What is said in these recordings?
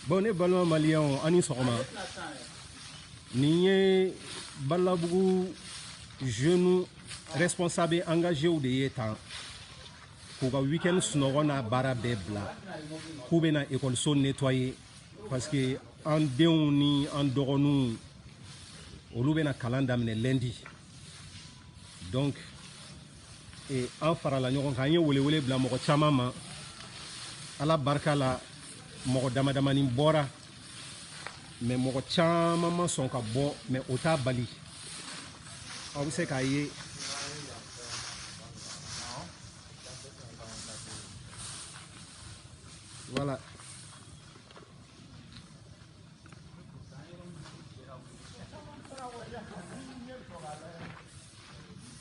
bon ne balima maliyɛnw aw ni sɔgɔma nin ye balabugu jeune responsable engagéw de ye tan k'u ka weekend sunɔgɔ n'a baara bɛɛ bila k'u bɛna ekɔliso nettoyer parce que an denw ni an dɔgɔninw olu bɛna kalan daminɛ lundi donc ee, an farala ɲɔgɔn kan an ye welewele bila mɔgɔ caman ma ala barika la mɔgɔ damadamani bɔra mais mɔgɔ caman ma sɔn ka bɔ mais o t'a bali aw bɛ se k'a ye wala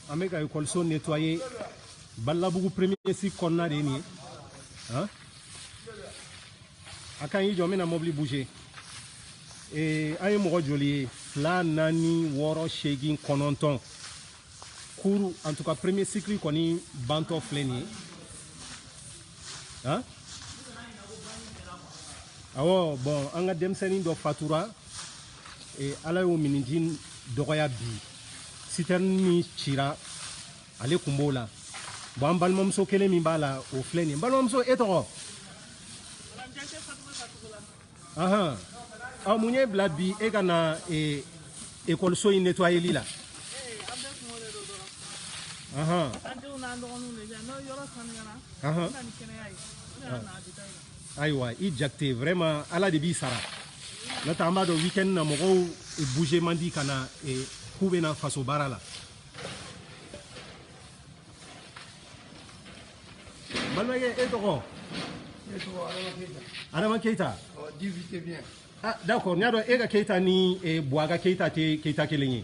an bɛ ka ekɔliso nettoyer balabugu premier cycle kɔnɔna de ye nin ye a kan y'i jɔ n bɛna mɔbili bouger ee an ye mɔgɔ joli ye fila naani wɔɔrɔ seegin kɔnɔntɔn kuru en tout cas premier cycle kɔni bantɔ filɛ nin ye han awɔ bon an ka denmisɛnnin dɔ fatura ee, ala y'o miniji dɔgɔya bi sitɛrini min cira ale kun b'o la bon an balimamuso kelen min b'a la o filɛ nin balimamuso e tɔgɔ ahan ɔ mun y'e bila bi e ka na ee, ekɔliso in netwayeli la ahan an denw n'an dɔgɔninw de bɛ yan n'o yɔrɔ sanuyara ahan na ni kɛnɛya ye o de y'a na a bɛ taa yen ayiwa i jakite vraiment ala de b'i sara n'o tɛ an b'a dɔn weekend na mɔgɔw bouger man di ka na k'u bɛna faso baara la balimakɛ e tɔgɔ adama keyita ah, d'accord n y'a dɔn e ka keyita ni buwa ka keyita tɛ keyita kelen ye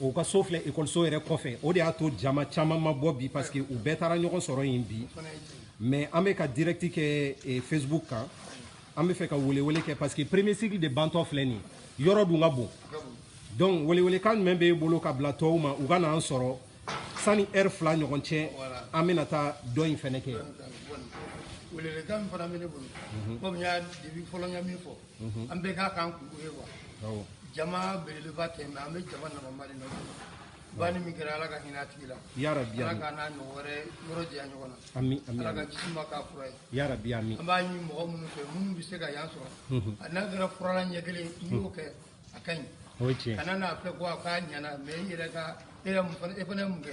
u ka so filɛ ekɔliso yɛrɛ kɔfɛ o de y'a to jama caman ma bɔ bi parce que u bɛɛ taara ɲɔgɔn sɔrɔ yen bi mais an bɛ ka direct kɛ eh, facebook kan an bɛ fɛ ka welewele kɛ parce que premier cycle de bantɔ filɛ nin ye yɔrɔ dun ka bon donc welewelekan jumɛn b'e bolo ka bila tɔw ma u ka n'an sɔrɔ sani heure fila ɲɔgɔn cɛ an bɛna taa dɔ in fɛnɛ kɛ welewelekan min fana bɛ ne bolo komi n y'a depuis fɔlɔ n ka min fɔ an bɛ k'a kan kunko ye wa jama belebeleba tɛ mais an bɛ jama nafama de nɔfɛ banni min kɛra ala ka hinɛ a tigi la ala k'a n'a ɲɔgɔn wɛrɛ yɔrɔ janya ɲɔgɔn na ala ka jisuma k'a fura ye an b'a ɲini mɔgɔ minnu fɛ minnu bɛ se ka yan sɔrɔ a n'a kɛra furalan ɲɛ kelen n'i y'o kɛ a ka ɲi kana n'a fɔ ko a k'a ɲana mais i yɛrɛ ka e fana ye mun kɛ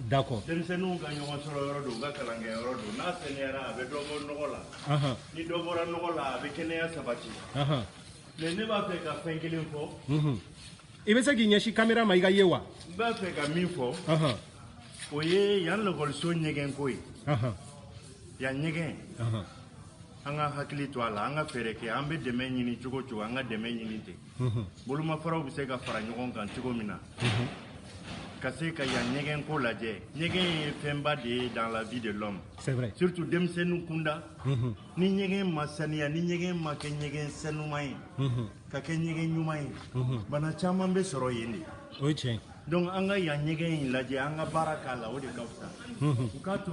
D'accord. Denmisɛnninw ka ɲɔgɔn sɔrɔ yɔrɔ don, u ka kalan kɛ yɔrɔ don. N'a saniyara a bɛ dɔ bɔ nɔgɔ la. Ahan. Ni dɔ bɔra nɔgɔ la, a bɛ kɛnɛya sabati. Ahan. Mais ne b'a fɛ ka fɛn kelen fɔ. Unhun. I bɛ se k'i ɲɛsin camera ma i ka ye wa? N b'a fɛ ka min fɔ. Ahan. O ye yan lakɔliso ɲɛgɛn ko ye. Ahan. Yan ɲɛgɛn. Ahan. an ka hakili to a la an ka fɛɛrɛ kɛ an bɛ dɛmɛ ɲini cogo cogo an ka dɛmɛ ɲini ten bolomafaraw bɛ se ka fara ɲɔgɔn kan cogo min na ka se ka yan ɲɛgɛn ko lajɛ ɲɛgɛn ye fɛnba de ye dans la vie de l'homme c'est vrai surtout denmisɛnninw kunda ni ɲɛgɛn ma saniya ni ɲɛgɛn ma kɛ ɲɛgɛn sanuman ye ka kɛ ɲɛgɛn ɲuman ye bana caman bɛ sɔrɔ yen de o ye tiɲɛ donc an ka yan ɲɛgɛn in lajɛ an ka baara k'a la o de ka fisa u k'a to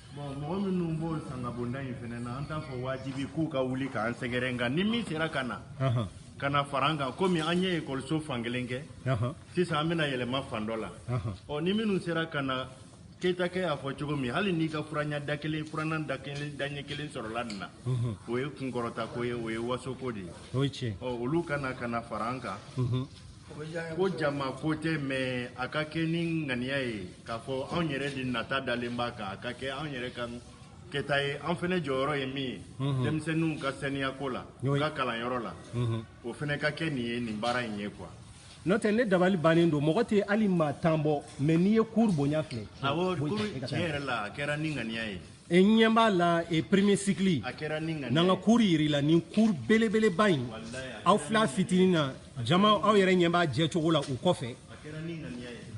Bon mɔgɔ minnu b'o sangabonda in fana na an t'a fɔ wajibi k'u ka wuli k'an sɛgɛrɛ nka ni min sera ka na ka na fara an kan komi an ye ekɔliso fan kelen kɛ sisan an bɛna yɛlɛma fan dɔ la ɔ ni minnu sera ka na keyitakɛ y'a fɔ cogo min hali n'i ka furanan da kelen furanan da kelen daɲɛ kelen sɔrɔla nin na o ye kunkɔrɔta ko ye o ye wasoko de ye ɔ olu ka na ka na fara an kan ko jama ko tɛ mais a ka kɛ ni ŋaniya ye k'a fɔ anw yɛrɛ de nata dalen b'a kan a ka kɛ anw yɛrɛ ka kɛta ye an fana jɔyɔrɔ ye min ye mhm. denmisɛnninw ka saniyako la u ka kalanyɔrɔ la mhm. o fana ka kɛ nin ye nin baara in ye quoi n'o tɛ ne dabali bannen don mɔgɔ tɛ hali maa tan bɔ mais n'i ye cour bonya filɛ tiɲɛ yɛrɛ la a kɛra ni ŋaniya ye e ɲɛ b'a la e premier cycle n'an ka cour yir'i la nin cour belebeleba in aw fila fitinin na jama aw yɛrɛ ɲɛ b'a jɛ cogo la u kɔfɛ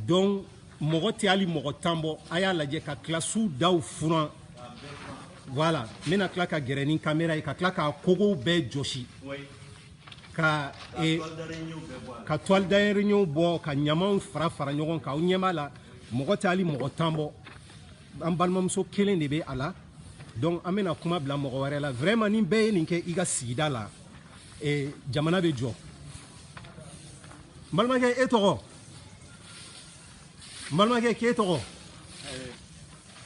donc mɔgɔ tɛ hali mɔgɔ tan bɔ a y'a lajɛ ka kilasiw daw furan voilà n bɛna tila ka gɛrɛ ni kamera ye ka tila k'a kogow bɛɛ jɔsi ka e, ka toile d'araignée bɔ ka ɲamaw fara fara ɲɔgɔn kan aw ɲɛ b'a la mɔgɔ tɛ hali mɔgɔ tan bɔ an balimamuso kelen de bɛ a la donc an bɛna kuma bila mɔgɔ wɛrɛ la vraiment ni bɛɛ ye nin kɛ i ka sigida la eh, jamana bɛ jɔ n balimakɛ e tɔgɔ n balimakɛ k'e tɔgɔ eh,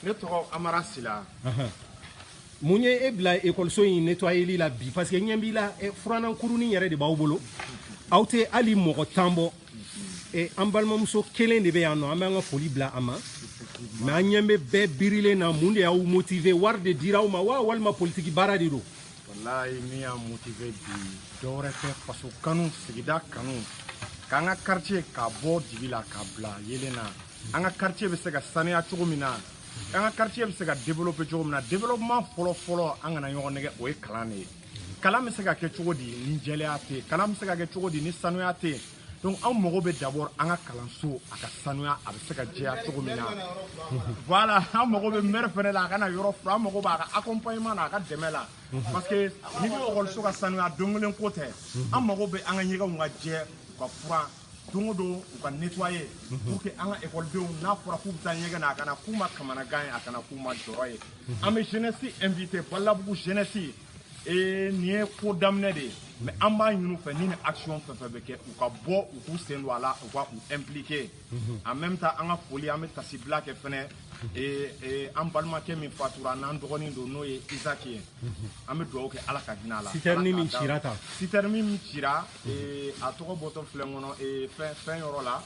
ne tɔgɔ amara sila mun ye e bila ekɔliso in nettoyeli la bi parce que n ɲɛ b'i la eh, furanan kurunin yɛrɛ de b'aw bolo aw tɛ hali mɔgɔ tan bɔ e an balimamuso kelen de bɛ yan nɔ an bɛ an ka foli bila a ma mais an ɲɛ bɛ bɛɛ birilen na mun de y'aw motiver wari de dira aw ma wa walima politiki baara de don walayi min y'an motiver bi dɔwɛrɛ tɛ faso kanu sigida kanu k'an ka quartier ka bɔ dibi la ka bila yelen na an ka quartier bɛ se ka saniya cogo min na an ka quartier bɛ se ka développer cogo min na développement fɔlɔ fɔlɔ an kana ɲɔgɔn nɛgɛn o ye kalan de ye kalan bɛ se ka kɛ cogo di ni jɛlenya tɛ yen kalan bɛ se ka kɛ cogo di ni sanuya tɛ yen donc anw mago bɛ d'abord an ka kalanso a ka sanuya a bɛ se ka jɛya cogo min na voilà an mago bɛ maire fɛnɛ la a ka na yɔrɔ furan an mago b'a ka accompagnement na a ka dɛmɛ la parce que n'i ko ekɔliso ka sanuya don kelen ko tɛ an mago bɛ an ka ɲɛgɛnw ka jɛ u ka furan don o don u ka nettoyer pour que an ka école denw n'a fɔra k'u bɛ taa ɲɛgɛn na a kana k'u ma kamanagan ye a kana k'u ma jɔrɔ ye an bɛ jeunesse inviter Balabugu jeunesse ee nin ye ko daminɛ de ye mais an b'a ɲini u fɛ ni nin action fɛn fɛn bɛ kɛ u ka bɔ u k'u sen don a la u ka u impliquer en même temps an ka foli an bɛ taasibila kɛ fɛnɛ ee ee an balimakɛ min fatura n'an dɔgɔnin don n'o ye Isaac ye an bɛ dugawu kɛ ala ka hinɛ a la sitɛrini min cira tan sitɛrini min cira a tɔgɔ bɔtɔ filɛ kɔnɔ fɛn yɔrɔ la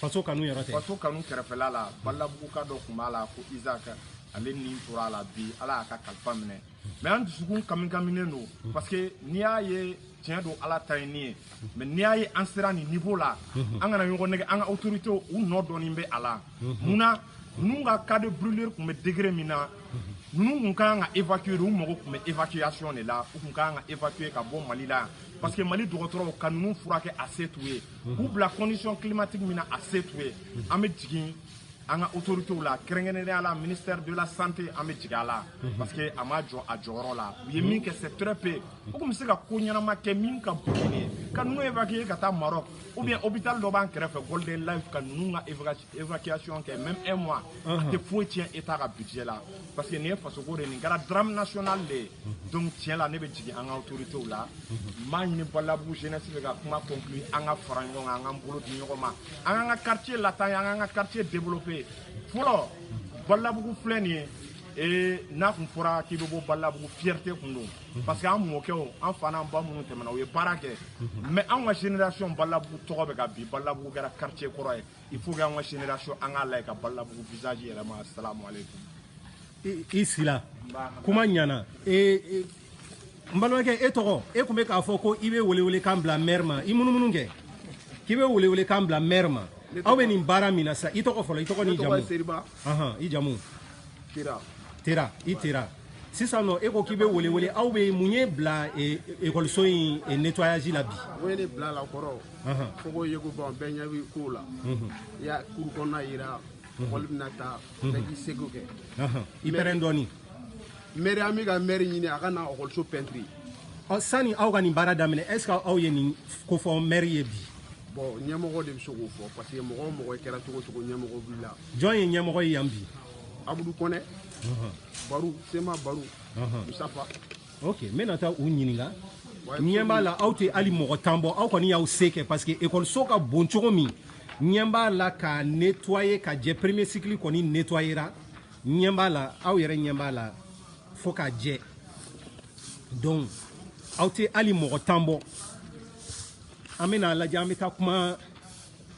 faso kanu yɛrɛ tɛ faso kanu kɛrɛfɛla la balabuguka dɔ tun b'a la ko Isaac ale ni tora a la bi ala y'a ka kalifa minɛ mais an dusukun kamikaminen don parce que n'i y'a ye tiɲɛ don ala ta ye ni ye mais n'i y'a ye an sera nin niveau la an kana ɲɔgɔn nɛgɛn an ka autorités u nɔ dɔɔnin bɛ a la mun na ninnu ka cas de brûlure tun bɛ degré min na ninnu tun ka kan ka évacuer de u mago tun bɛ évacuation de la u tun ka kan ka évacuer ka bɔ Mali la yan parce que Mali dɔgɔtɔrɔw ka ninnu furakɛ a se t'u ye k'u bila condition climatique min na a se t'u ye an bɛ jigin an ka autorités la kɛrɛnkɛrɛnnenya la ministère de la santé an bɛ jigin a la parce que a ma jɔ a jɔyɔrɔ la u ye min kɛ c'est très peu u tun bɛ se ka ko ɲɛnama kɛ min ka bon nin ye ka ninnu évacuer ka taa Maroc ou bien hôpital dɔ b'an kɛrɛfɛ golden life ka ninnu ka évacuation kɛ même un mois a uh-huh. tɛ foyi tiɲɛ état ka budget la parce que nin ye fasoko de nin kɛra drame national de ye uh-huh. donc tiɲɛ la ne bɛ jigin an ka autorités la uh-huh. n b'a ɲini balabugu jeunesse fɛ ka kuma conclure an ka fara ɲɔgɔn kan an k'an bolo di ɲɔgɔn ma an k'an ka quartier lataa ɲɛ an k'an ka quartier développer fɔlɔ balabugu filɛ nin ye ee n'a tun fɔra k'i bɛ bɔ balabugu fierté tun don parce que an mɔkɛw an fa n'an ba minnu tɛmɛna u ye baara kɛ mais anw ka génération balabugu tɔgɔ bɛ ka bin balabugu kɛra quartier kɔrɔ ye il faut que an ka génération an k'a lajɛ ka balabugu visage yɛlɛma assalamu alaikum i sila kuma ɲana n balimakɛ e tɔgɔ e tun bɛ k'a fɔ ko i bɛ welewelekan bila maire ma i munumunu kɛ k'i bɛ welewelekan bila maire ma aw bɛ nin baara min na sisan i tɔgɔ fɔlɔ i tɔgɔ n'i jamu i jamu tera tera i tera sisan nɔ e ko k'i bɛ welewele aw bɛ mun ye bila ekɔliso in nettoyage la bi o ye ne bila a la kɔrɔ fo ko yeko ban bɛɛ ɲɛ b'i kow la i y'a kuru kɔnɔna yira mɔgɔli bɛna taa bɛɛ k'i seko kɛ i pɛrɛn dɔɔni mɛri an bɛ ka mɛri ɲini a ka na ekɔliso pɛntiri sani aw ka nin baara daminɛ est ce que aw ye nin ko fɔ mɛri ye bi bon ɲɛmɔgɔ de bɛ se k'o fɔ parce que mɔgɔ o mɔgɔ kɛra cogo cogo ɲɛmɔgɔ b'i la jɔn ye ɲɛmɔgɔ ye yan bi abudu kɔnɛ baro sema baro musafa ok n bɛna taa u ɲininka ɲɛ b'a la aw tɛ hali mɔgɔ tan bɔ aw kɔni y'aw se kɛ parce que ekɔliso ka bon cogo min ɲɛ b'a la ka nettoyer ka jɛ premier cycle kɔni nettoyera ɲɛ b'a la aw yɛrɛ ɲɛ b'a la fo ka jɛ donc aw tɛ hali mɔgɔ tan bɔ an bɛna a lajɛ an bɛ taa kuma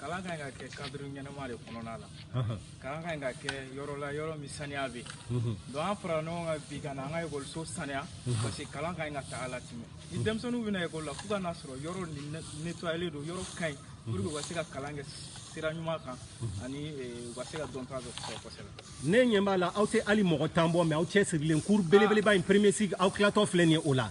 kalan ka ɲi ka kɛ cadre ɲɛnama de kɔnɔna la kalan ka ɲi ka kɛ yɔrɔ la yɔrɔ min saniya bɛ yen donc an farala ɲɔgɔn kan bi ka na an ka ekɔliso saniya parce que kalan ka ɲi ka taga latimɛ ni denmisɛnninw bɛna ekɔli la fo ka n'a sɔrɔ yɔrɔ nettoyalen don yɔrɔ ka ɲi pour que u ka se ka kalan kɛ sira ɲuman kan ani u ka se ka dɔnta dɔ sɔrɔ kosɛbɛ ne ɲɛ b'a la aw tɛ hali mɔgɔ tan bɔ mais aw cɛ sirilen cour belebeleba in premier cycle aw tilatɔ filɛ nin ye o la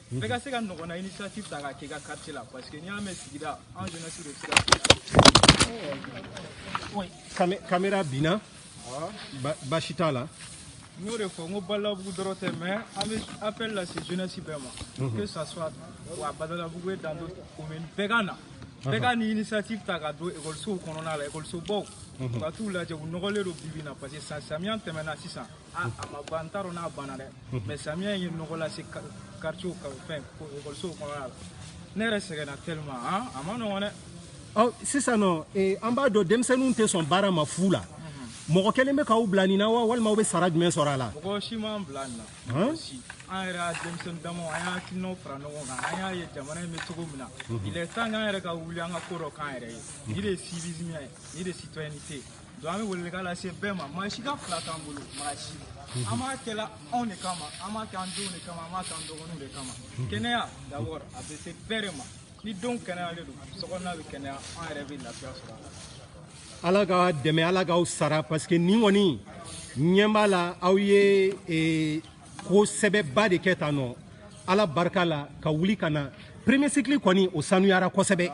bɛɛ ka se ka ɲɔgɔnna initiative ta k'a kɛ i ka quartier la parce que n'i y'a mɛn sigida an jeunesse de sira kamera binna baasi t'a la n y'o de fɔ n ko badalabugu dɔrɔn tɛ mais an bɛ appel lase jeunesse bɛɛ ma mhm. que ça soit à badalabugu et dans d'autres communes bɛɛ ka na bɛɛ ka nin initiative ta ka don ekɔlisow kɔnɔna la ekɔlisobaw u ka t'u lajɛ u nɔgɔlen don bibi in na parce que san samiya tɛmɛna sisan Ah, a ma ban n t'a dɔn n'a banna dɛ mais samiya ye nɔgɔ lase quartier ka fɛn ekɔlisow kɔnɔna la ne yɛrɛ sɛgɛnna tellement han a man nɔgɔn dɛ ɔ sisan nɔ an b'a dɔn denmisɛnninw tɛ sɔn baara ma fu la mɔgɔ kelen bɛ k'aw bila nin na wa walima aw bɛ sara jumɛn sɔrɔ a la mɔgɔ si m'an bila nin na an yɛrɛ y'a denmisɛnnin damaw an y'an hakilinaw fara ɲɔgɔn kan an y'a ye jamana in bɛ cogo min na il est temps k'an yɛrɛ ka wuli an ka ko dɔ k'an yɛrɛ ye nin de ye civisme ye nin de ye citoyenneté ye donc an bɛ welewelekan lase bɛɛ ma maa si ka fila t'an bolo maa si an b'a kɛla anw de kama an b'a kɛ an denw de kama an b'a kɛ an dɔgɔninw de kama kɛnɛya d'abord a bɛ se bɛɛ de ma ni denw kɛnɛyalen don sokɔnɔna bɛ kɛnɛya an yɛrɛ bɛ lafiya sɔrɔ a la ala k'aw dɛmɛ ala k'aw sara parce que nin kɔni ɲɛ b'a la aw ye ko sɛbɛba de kɛ tan nɔ ala barika la ka wuli ka na premier cycle kɔni o sanuyara kosɛbɛ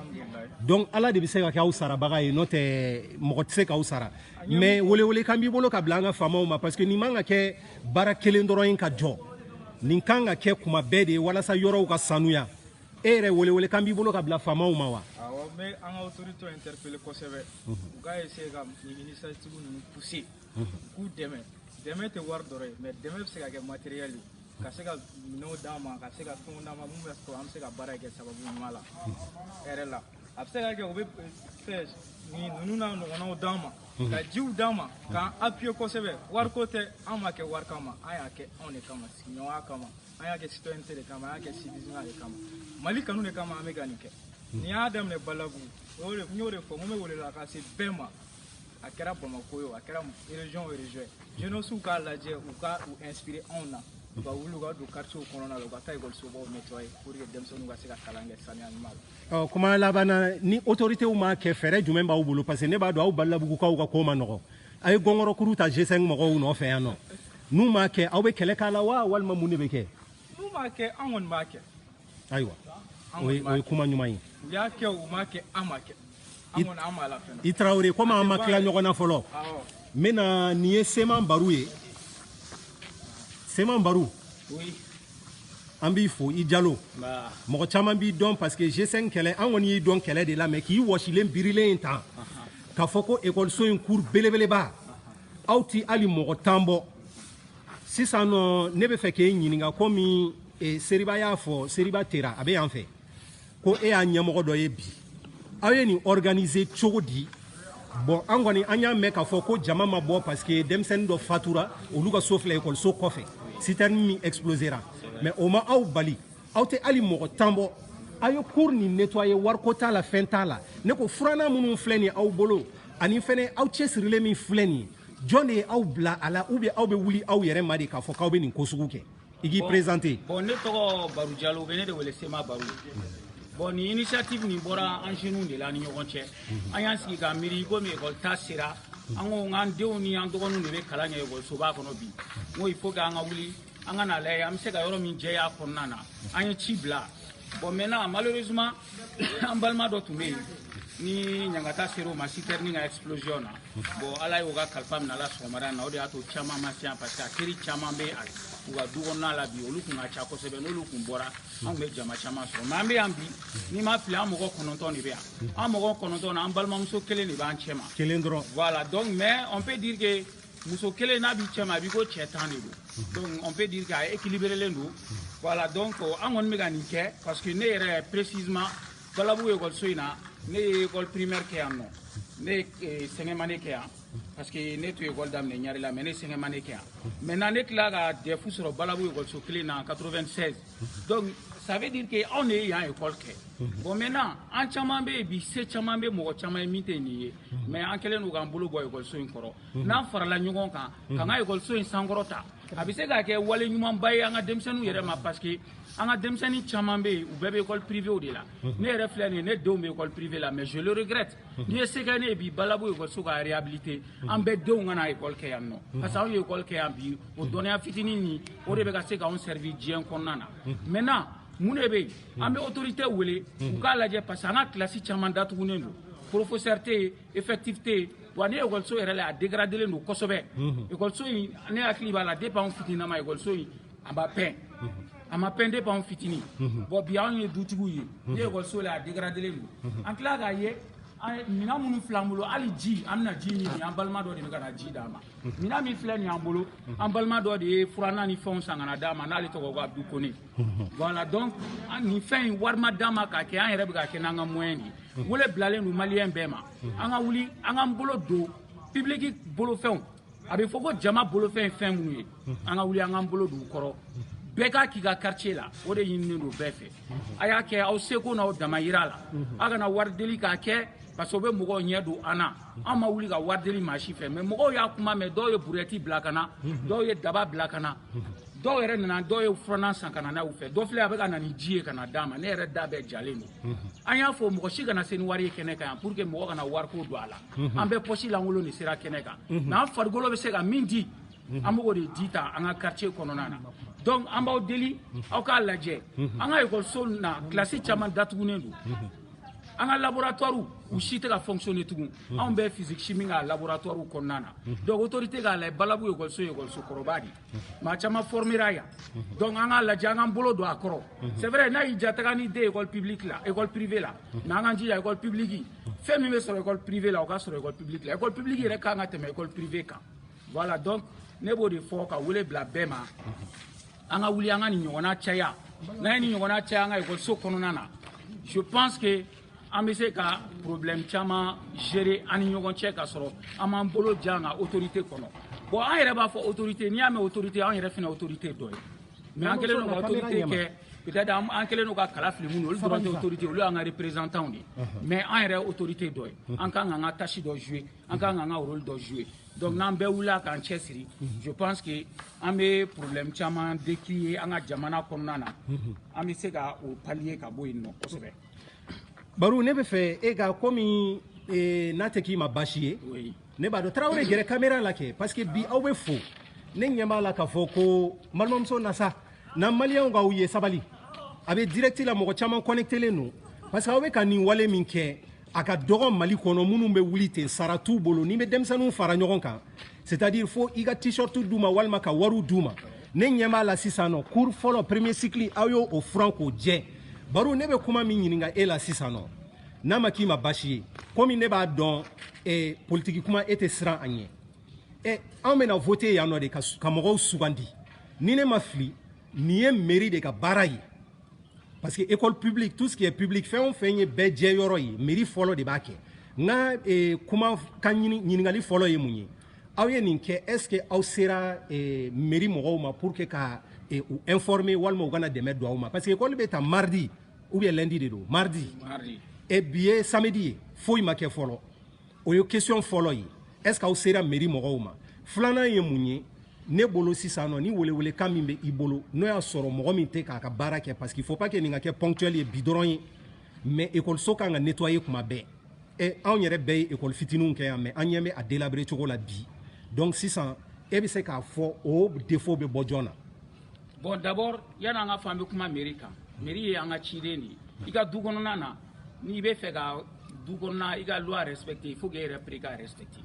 donc ala de bɛ se ka kɛ aw sarabaga ye n'o tɛ mɔgɔ tɛ se k'aw sara mais welewelekan b'i bolo ka bila an ka faamaw ma parce que nin man ka kɛ baara kelen dɔrɔn ye ka jɔ nin kan ka kɛ kuma bɛɛ de ye walasa yɔrɔw ka sanuya e yɛrɛ welewelekan b'i bolo ka bila faamaw ma wa awɔ n bɛ an ka autorité interpeller kosɛbɛ u ka essayer ka nin initiative ninnu pousser k'u dɛmɛ dɛmɛ tɛ wari dɔrɔn ye mais dɛmɛ bɛ se ka kɛ matériel ye ka se ka minɛnw d'an ma ka se ka fɛnw d'an ma min bɛ sɔrɔ an bɛ se ka baara kɛ sababu ɲuman la hɛrɛ la a bɛ se ka kɛ u bɛ fɛnnin ninnu n'a ɲɔgɔnnaw d'an ma ka jiw d'an ma k'an appuyer kosɛbɛ wariko tɛ an m'a kɛ wari kama an y'a kɛ anw de kama sigiɲɔgɔnya kama an y'a kɛ citoyenneté de kama an y'a kɛ civisme de kama mali kanu de kama an bɛ ka nin kɛ n'an y'a daminɛ badalabugu n y'o de fɔ n ko n bɛ welela ka se bɛɛ ma a kɛra bamakɔ yo a kɛra région o région jeunesses k'a lajɛ u ka u inspiré anw na u ka wuli u ka don quartier kɔnɔna la u ka taa ekɔlisobaw nettoyer pour que denmisɛnninw ka se ka kalan kɛ saniya ɲuman la ɔ kuma laban na ni autorités m'a kɛ fɛɛrɛ jumɛn b'aw bolo parce que ne b'a dɔn aw badalabugukaw ka ko ma nɔgɔ a ye gɔngɔrɔkuru ta g5 mɔgɔw nɔfɛ yan nɔ n'u m'a kɛ aw bɛ kɛlɛ k'a la wa walima mun de bɛ kɛ n'u m'a kɛ an kɔni b'a kɛ ayiwa o ye o ye kuma ɲuman ye u y'a kɛ u m'a kɛ an ma kɛ an kɔni an b'a la fɛnɛ i tarawele komi an ma tila ɲɔgɔn na fɔlɔ n bɛna nin ye sema baru ye sema baru an b'i fo i jalo mɔgɔ caman b'i dɔn parce que g5 kɛlɛ an kɔni y'i dɔn kɛlɛ de la mais k'i wɔsilen birilen ye tan k'a fɔ ko ekɔliso in cours belebeleba aw ti hali mɔgɔ tan bɔ sisan nɔ ne b'a fɛ k'e ɲininka komi e seriba y'a fɔ seriba tera a bɛ yan fɛ ko e y'a ɲɛmɔgɔ dɔ ye bi aw ye nin organiser cogo di bon an kɔni an y'a mɛn k'a fɔ ko jama ma bɔ parce que denmisɛnnin dɔ fatura olu ka so filɛ ekɔliso kɔfɛ citerne min explosera mais o ma aw bali aw tɛ hali mɔgɔ tan bɔ aw ye cour nin nettoyer wariko t'a la fɛn t'a la ne ko furannan minnu filɛ nin aw bolo ani fɛnɛ aw cɛsirilen min filɛ nin ye jɔn de ye aw bila a la ou bien aw bɛ wuli aw yɛrɛ ma de k'a fɔ k'aw bɛ nin ko sugu kɛ i k'i présenter bon ne tɔgɔ Baru Jalo u bɛ ne de wele Sema Baru bon nin initiative nin bɔra an jeunes de la ni ɲɔgɔn cɛ an y'an sigi ka miiri komi école ta sera an ko n k'an denw ni an dɔgɔninw de bɛ kalan kɛ ekɔlisoba kɔnɔ bi n ko il faut que an ka wuli an ka n'a lajɛ an bɛ se ka yɔrɔ min jɛya a kɔnɔna na an ye ci bila bon maintenant malheureusement an balima dɔ tun bɛ yen ni ɲangata sera o ma citerne ka explosion na bon ala y'o ka kalifa minɛ a la sɔgɔmada na o de y'a to caman ma se yan parce que a teri caman bɛ u ka du kɔnɔna la bi olu tun ka ca kosɛbɛ n'olu tun bɔra an tun bɛ jama caman sɔrɔ mais an bɛ yan bi ni n ma fili an mɔgɔ kɔnɔntɔn de bɛ yan an mɔgɔ kɔnɔntɔn na an balimamuso kelen de b'an cɛ ma kelen dɔrɔn voilà donc mais on peut dire que muso kelen n'a b'i cɛ ma a b'i ko cɛ tan de don donc on peut dire k'a équilibrelen don voilà donc an kɔni bɛ ka nin kɛ parce que ne yɛrɛ précisément badalabugu ekɔliso in na ne ye école primaire kɛ yan nɔ ne ye eh, cinquième année kɛ yan parce que ne tun ye école daminɛ ɲarela mais ne cinquième année kɛ yan maintenant ne tila ka DEF sɔrɔ badalabugu ekɔliso kelen na 96 Donc ça veut dire que anw de ye yan école kɛ bon maintenant an caman bɛ yen bi se caman bɛ mɔgɔ caman ye min tɛ nin ye mais an kɛlen don k'an bolo bɔ ekɔliso in kɔrɔ n'an farala ɲɔgɔn kan k'an ka ekɔliso in sankɔrɔta a bɛ se ka kɛ wale ɲumanba ye an ka denmisɛnninw yɛrɛ ma parce que an ka denmisɛnnin caman bɛ yen u bɛɛ bɛ école privée de la ne yɛrɛ filɛ nin ye ne denw bɛ école privée la mais je le regrette n'i ye se kɛ ne ye bi balabu ekɔliso ka réhabilité an bɛɛ denw ka na ekɔli kɛ yan nɔ parce que anw ye ekɔli kɛ yan bi o dɔnniya fitinin nin o de bɛ ka se k'anw servir diɲɛ kɔnɔna na maintenant mun de bɛ yen an bɛ autorité wele u k'a lajɛ parce que an ka kilasi caman datugunen don professeur tɛ yen effectif tɛ yen wa ni ekɔliso yɛrɛ la a dégradelen don kosɛbɛ ekɔliso in ne hakili b'a la depuis anw fitinama ekɔliso in an b'a peint a ma peint depuis anw fitinin bon bi anw ye dutigiw ye ni ekɔliso la a dégradelen don an tila k'a ye minɛn minnu filɛ an bolo hali ji an bɛna ji min an balima dɔ de bɛ ka na ji d'an ma minɛn min filɛ nin y'an bolo an balima dɔ de ye furannan ni fɛnw san ka na d'an ma n'ale tɔgɔ ko abdu kone voilà donc nin fɛn in wari ma d'an ma k'a kɛ an yɛrɛ bɛ k'a kɛ n'an ka moyen de ye wele bilalen don maliyɛn bɛɛ ma an ka wuli an k'an bolo don pibiliki bolofɛnw a bɛ fɔ ko jama bolofɛn ye fɛn minnu ye an ka wuli an k'an bolo don u kɔrɔ bɛɛ k'a k'i ka quartier la o de ɲininen don bɛɛ fɛ a y'a kɛ aw seko n'aw damayira la a kana wari deli k'a kɛ parce que o bɛ mɔgɔw ɲɛ don an na an ma wuli ka wari deli maa si fɛ mais mɔgɔw y'a kuma mɛn dɔw ye burɛti bila ka na dɔw ye daba bila ka na dɔw yɛrɛ nana dɔw ye furannan san ka na n'a y'u fɛ dɔ filɛ a bɛ ka na ni ji ye ka na d'an ma ne yɛrɛ da bɛɛ jalen don an y'a fɔ mɔgɔ si kana se ni wari ye kɛnɛ kan yan pour que mɔgɔ kana wariko don a la an bɛɛ pɔsi lankolon de sera kɛnɛ kan n'an farikolo bɛ se ka min di an b'o de di ta an ka quartier kɔnɔna na donc an b'aw deli aw k'a lajɛ an ka ekɔliso na kilasi caman datugunen don an ka laboratoire u si tɛ ka fonctionner tugun anw bɛ physique chimie ka laboratoire kɔnɔna na donc autorité k'a lajɛ balabu ekɔliso ye ekɔliso kɔrɔba de ye maa caman formera yan donc an k'a lajɛ an k'an bolo don a kɔrɔ c'est vrai n'a y'i ja taga ni den ekɔli publique la ekɔli privé la na an k'an jija ekɔli publique fɛn min bɛ sɔrɔ école privée la o ka sɔrɔ école publique la école publique yɛrɛ kan ka tɛmɛ école privée kan voilà donc ne b'o de fɔ ka wele bila bɛɛ ma an ka wuli an ka nin ɲɔgɔnna caya n'an ye nin ɲɔgɔnna caya an ka ekɔliso kɔnɔna na je pense que an bɛ se ka problème caman gérer an ni ɲɔgɔn cɛ ka sɔrɔ an m'an bolo ja an ka autorité kɔnɔ bon an yɛrɛ b'a fɔ autorité n'i y'a mɛn autorité an yɛrɛ fana autorité dɔ ye mais an kɛlen don ka autorité kɛ peut-être an kɛlen don ka kala fili minnu olu dɔrɔn tɛ autorité olu y'an ka représentantw de ye mais an yɛrɛ autorité dɔ ye an kan k'an ka tâche dɔ jouer an kan k'an ka rôle dɔ jouer donc n'an bɛɛ wulila k'an cɛsiri je pense que an bɛ problème caman décrier an ka jamana kɔnɔna na an bɛ se ka o pallier ka bɔ yen nɔ kosɛbɛ baro ne bɛ fɛ e ka komi n'a tɛ k'i ma baasi ye ne b'a dɔn tarawele gɛrɛ kamera la kɛ parce que bi aw bɛ fo ne ɲɛ b'a la k'a fɔ ko balimamuso nasa na maliyɛnw k'aw ye sabali a bɛ direct la mɔgɔ caman connectelen don parce que aw bɛ ka nin wale min kɛ a ka dɔgɔ mali kɔnɔ minnu bɛ wuli ten sara t'u bolo n'i bɛ denmisɛnninw fara ɲɔgɔn kan c'est à dire fo i ka t-shirt d'u ma walima ka wariw d'u ma ne ɲɛ b'a la sisan nɔ cour fɔlɔ premier cycle aw y'o furan k'o jɛ baro ne bɛ kuma min ɲininka e la sisan nɔ n'a ma k'i ma basi ye komi ne b'a dɔn eh, politiki kuma e tɛ siran a ɲɛ eh, an bɛna vote yan nɔ de ka, ka mɔgɔw sugandi ni ne ma fili nin ye meri de ka baara ye parce que école publique tout ce qui est public fɛn o fɛn ye bɛɛ jɛ yɔrɔ ye meri fɔlɔ de b'a kɛ n ka eh, kuma ka ɲininkali fɔlɔ ye mun ye aw ye nin kɛ est ce que aw sera eh, meri mɔgɔw ma pour que ka eh, u informer walima u ka na dɛmɛ don aw ma parce que école bɛ ta mardi ou bien lundi de don mardi e bi ye samedi ye foyi ma kɛ fɔlɔ o ye question fɔlɔ ye est ce que aw sera meri mɔgɔw ma filanan ye mun ye ne bolo sisan nɔ ni welewelekan min bɛ i bolo n'o y'a sɔrɔ mɔgɔ min tɛ k'a ka baara kɛ parce qu'il faut pas que nin ka kɛ ponctuel ye bi dɔrɔn ye mais ekɔliso kan ka nettoyer kuma bɛɛ e anw yɛrɛ bɛɛ ye ekɔli fitininw kɛ yan mais an ɲɛ bɛ a délabrer cogo la bi donc sisan e bɛ se k'a fɔ o défaut bɛ bɔ jɔn na bon d'abord yani an ka fɔ an bɛ kuma meri kan meri ye an ka ciden de ye i ka du kɔnɔna na n'i bɛ fɛ ka du kɔnɔna i ka loi respecte il faut que e yɛrɛ pere ka respecte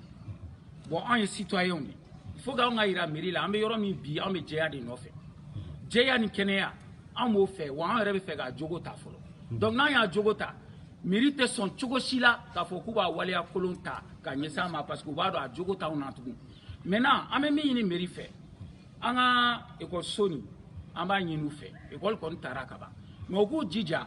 bon anw ye citoyenw de il faut que anw k'a yira meri la an bɛ yɔrɔ min bi anw bɛ jɛya de nɔfɛ jɛya ni kɛnɛya an b'o fɛ wa an yɛrɛ bɛ fɛ k'a jogo ta fɔlɔ donc n'an y'a jogo ta meri tɛ sɔn cogo si la k'a fɔ k'u b'a waleya kolon ta ka ɲɛsin a ma parce que u b'a dɔn a jogo t'anw na tugun maintenant an bɛ min ɲini meri fɛ an ka ekɔliso nin an b'a ɲini u fɛ ekɔli kɔni tara ka ban mais u k'u jija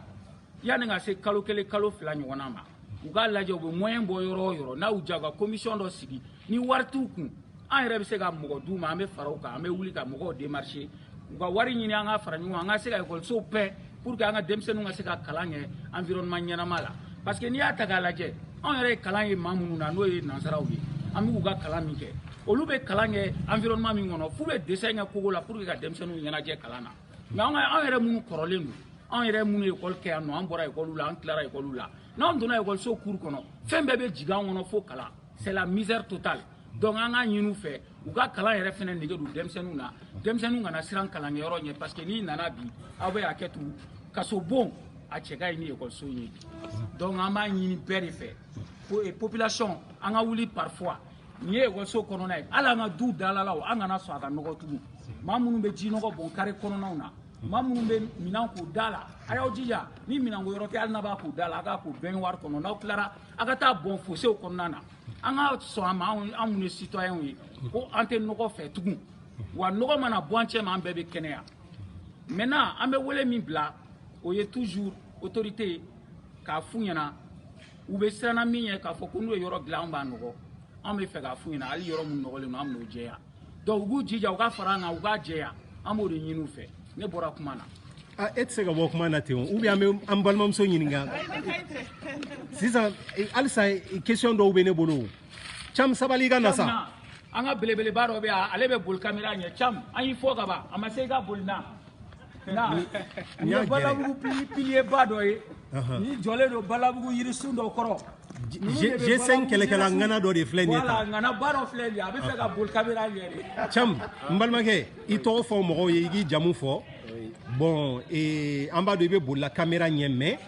yanni ka se kalo kelen kalo fila ɲɔgɔnna ma u k'a lajɛ u bɛ moyen bɔ yɔrɔ o yɔrɔ n'a y'u diya u ka komisiyɔn dɔ sigi ni wari t'u kun an yɛrɛ bɛ se ka mɔgɔ d'u ma an bɛ fara u kan an bɛ wuli ka mɔgɔw démarcher u ka wari ɲini an ka fara ɲɔgɔn kan an ka se ka ekɔlisow pɛɛ pour que an ka denmisɛnninw ka se ka kalan kɛ environnement ɲɛnama la parce que n'i y'a ta k'a lajɛ anw yɛrɛ ye kalan ye maa minnu na n'o ye nansaraw ye an b'u ka kalan min kɛ olu bɛ kalan kɛ environnement min kɔnɔ f'u bɛ dessin kɛ kogo la pour que ka denmisɛnninw ɲɛnajɛ kalan na mais an ka anw yɛrɛ minnu kɔrɔlen don anw yɛrɛ minnu ye ekɔli kɛ yan nɔ an bɔra ekɔliw la an tilara ekɔliw la n'anw donna ekɔliso cour kɔnɔ fɛn bɛɛ bɛ jigin an kɔnɔ fo kalan c'est la misère totale donc an ka ɲini u fɛ u ka kalan yɛrɛ fana nege don denmisɛnninw na denmisɛnninw kana siran kalankɛyɔrɔ ɲɛ parce que n'i nana bi aw bɛ hakɛ to kasobon a cɛ ka ɲi ni ekɔliso in ye donc an b'a ɲini bɛɛ de fɛ ko eh, population an ka wuli parfois nin ye ekɔliso kɔnɔna ye hali an ka duw dalalaw an kana sɔn a ka nɔgɔ tugun maa minnu bɛ ji nɔgɔ bɔn kare kɔnɔnaw na maa minnu bɛ minɛn k'u da la a y'aw jija ni minɛnko yɔrɔ tɛ hali n'a b'a ko da la a k'a ko bɛnwari kɔnɔ n'aw tilara a ka taa bɔn fosew kɔnɔna na an ka sɔn a ma an minnu ye sitɔyɛnw ye ko an tɛ nɔgɔ fɛ tugun wa nɔgɔ mana bɔ an cɛma an bɛɛ bɛ kɛnɛya maintenant an bɛ wele min bila o ye toujours autorité k'a f'u ɲɛna u bɛ siran na min ɲɛ k'a fɔ ko n'u ye yɔrɔ dilan an b'a nɔgɔ an bɛ fɛ k'a f'u ɲɛna hali yɔrɔ min nɔgɔlen don an bɛn'o jɛya donc u k'u jija u ka fara an kan u k'a jɛya an b'o de ɲini u fɛ ne bɔra kuma na a e tɛ se ka bɔ kuma na ten o ou bien an bɛ an balimamuso ɲininka sisan halisa question dɔw bɛ ne bolo cam sabali i ka na sa an ka belebeleba dɔ bɛ yan ale bɛ boli kamera ɲɛ cam an y'i fɔ ka ban a ma se i ka boli na n ye balabugu piliyeba dɔ ye ni jɔlen don balabugu yirisun dɔ kɔrɔ G5 kɛlɛkɛla ŋana dɔ de filɛ nin ye tan. Voilà, ŋana ba dɔ filɛ nin ye. A bɛ fɛ ka boli kamera ɲɛ de. Cam, n balimakɛ, i tɔgɔ fɔ mɔgɔw ye, i k'i jamu fɔ. Bon, ee, an b'a dɔn i bɛ bolila kamera ɲɛ mais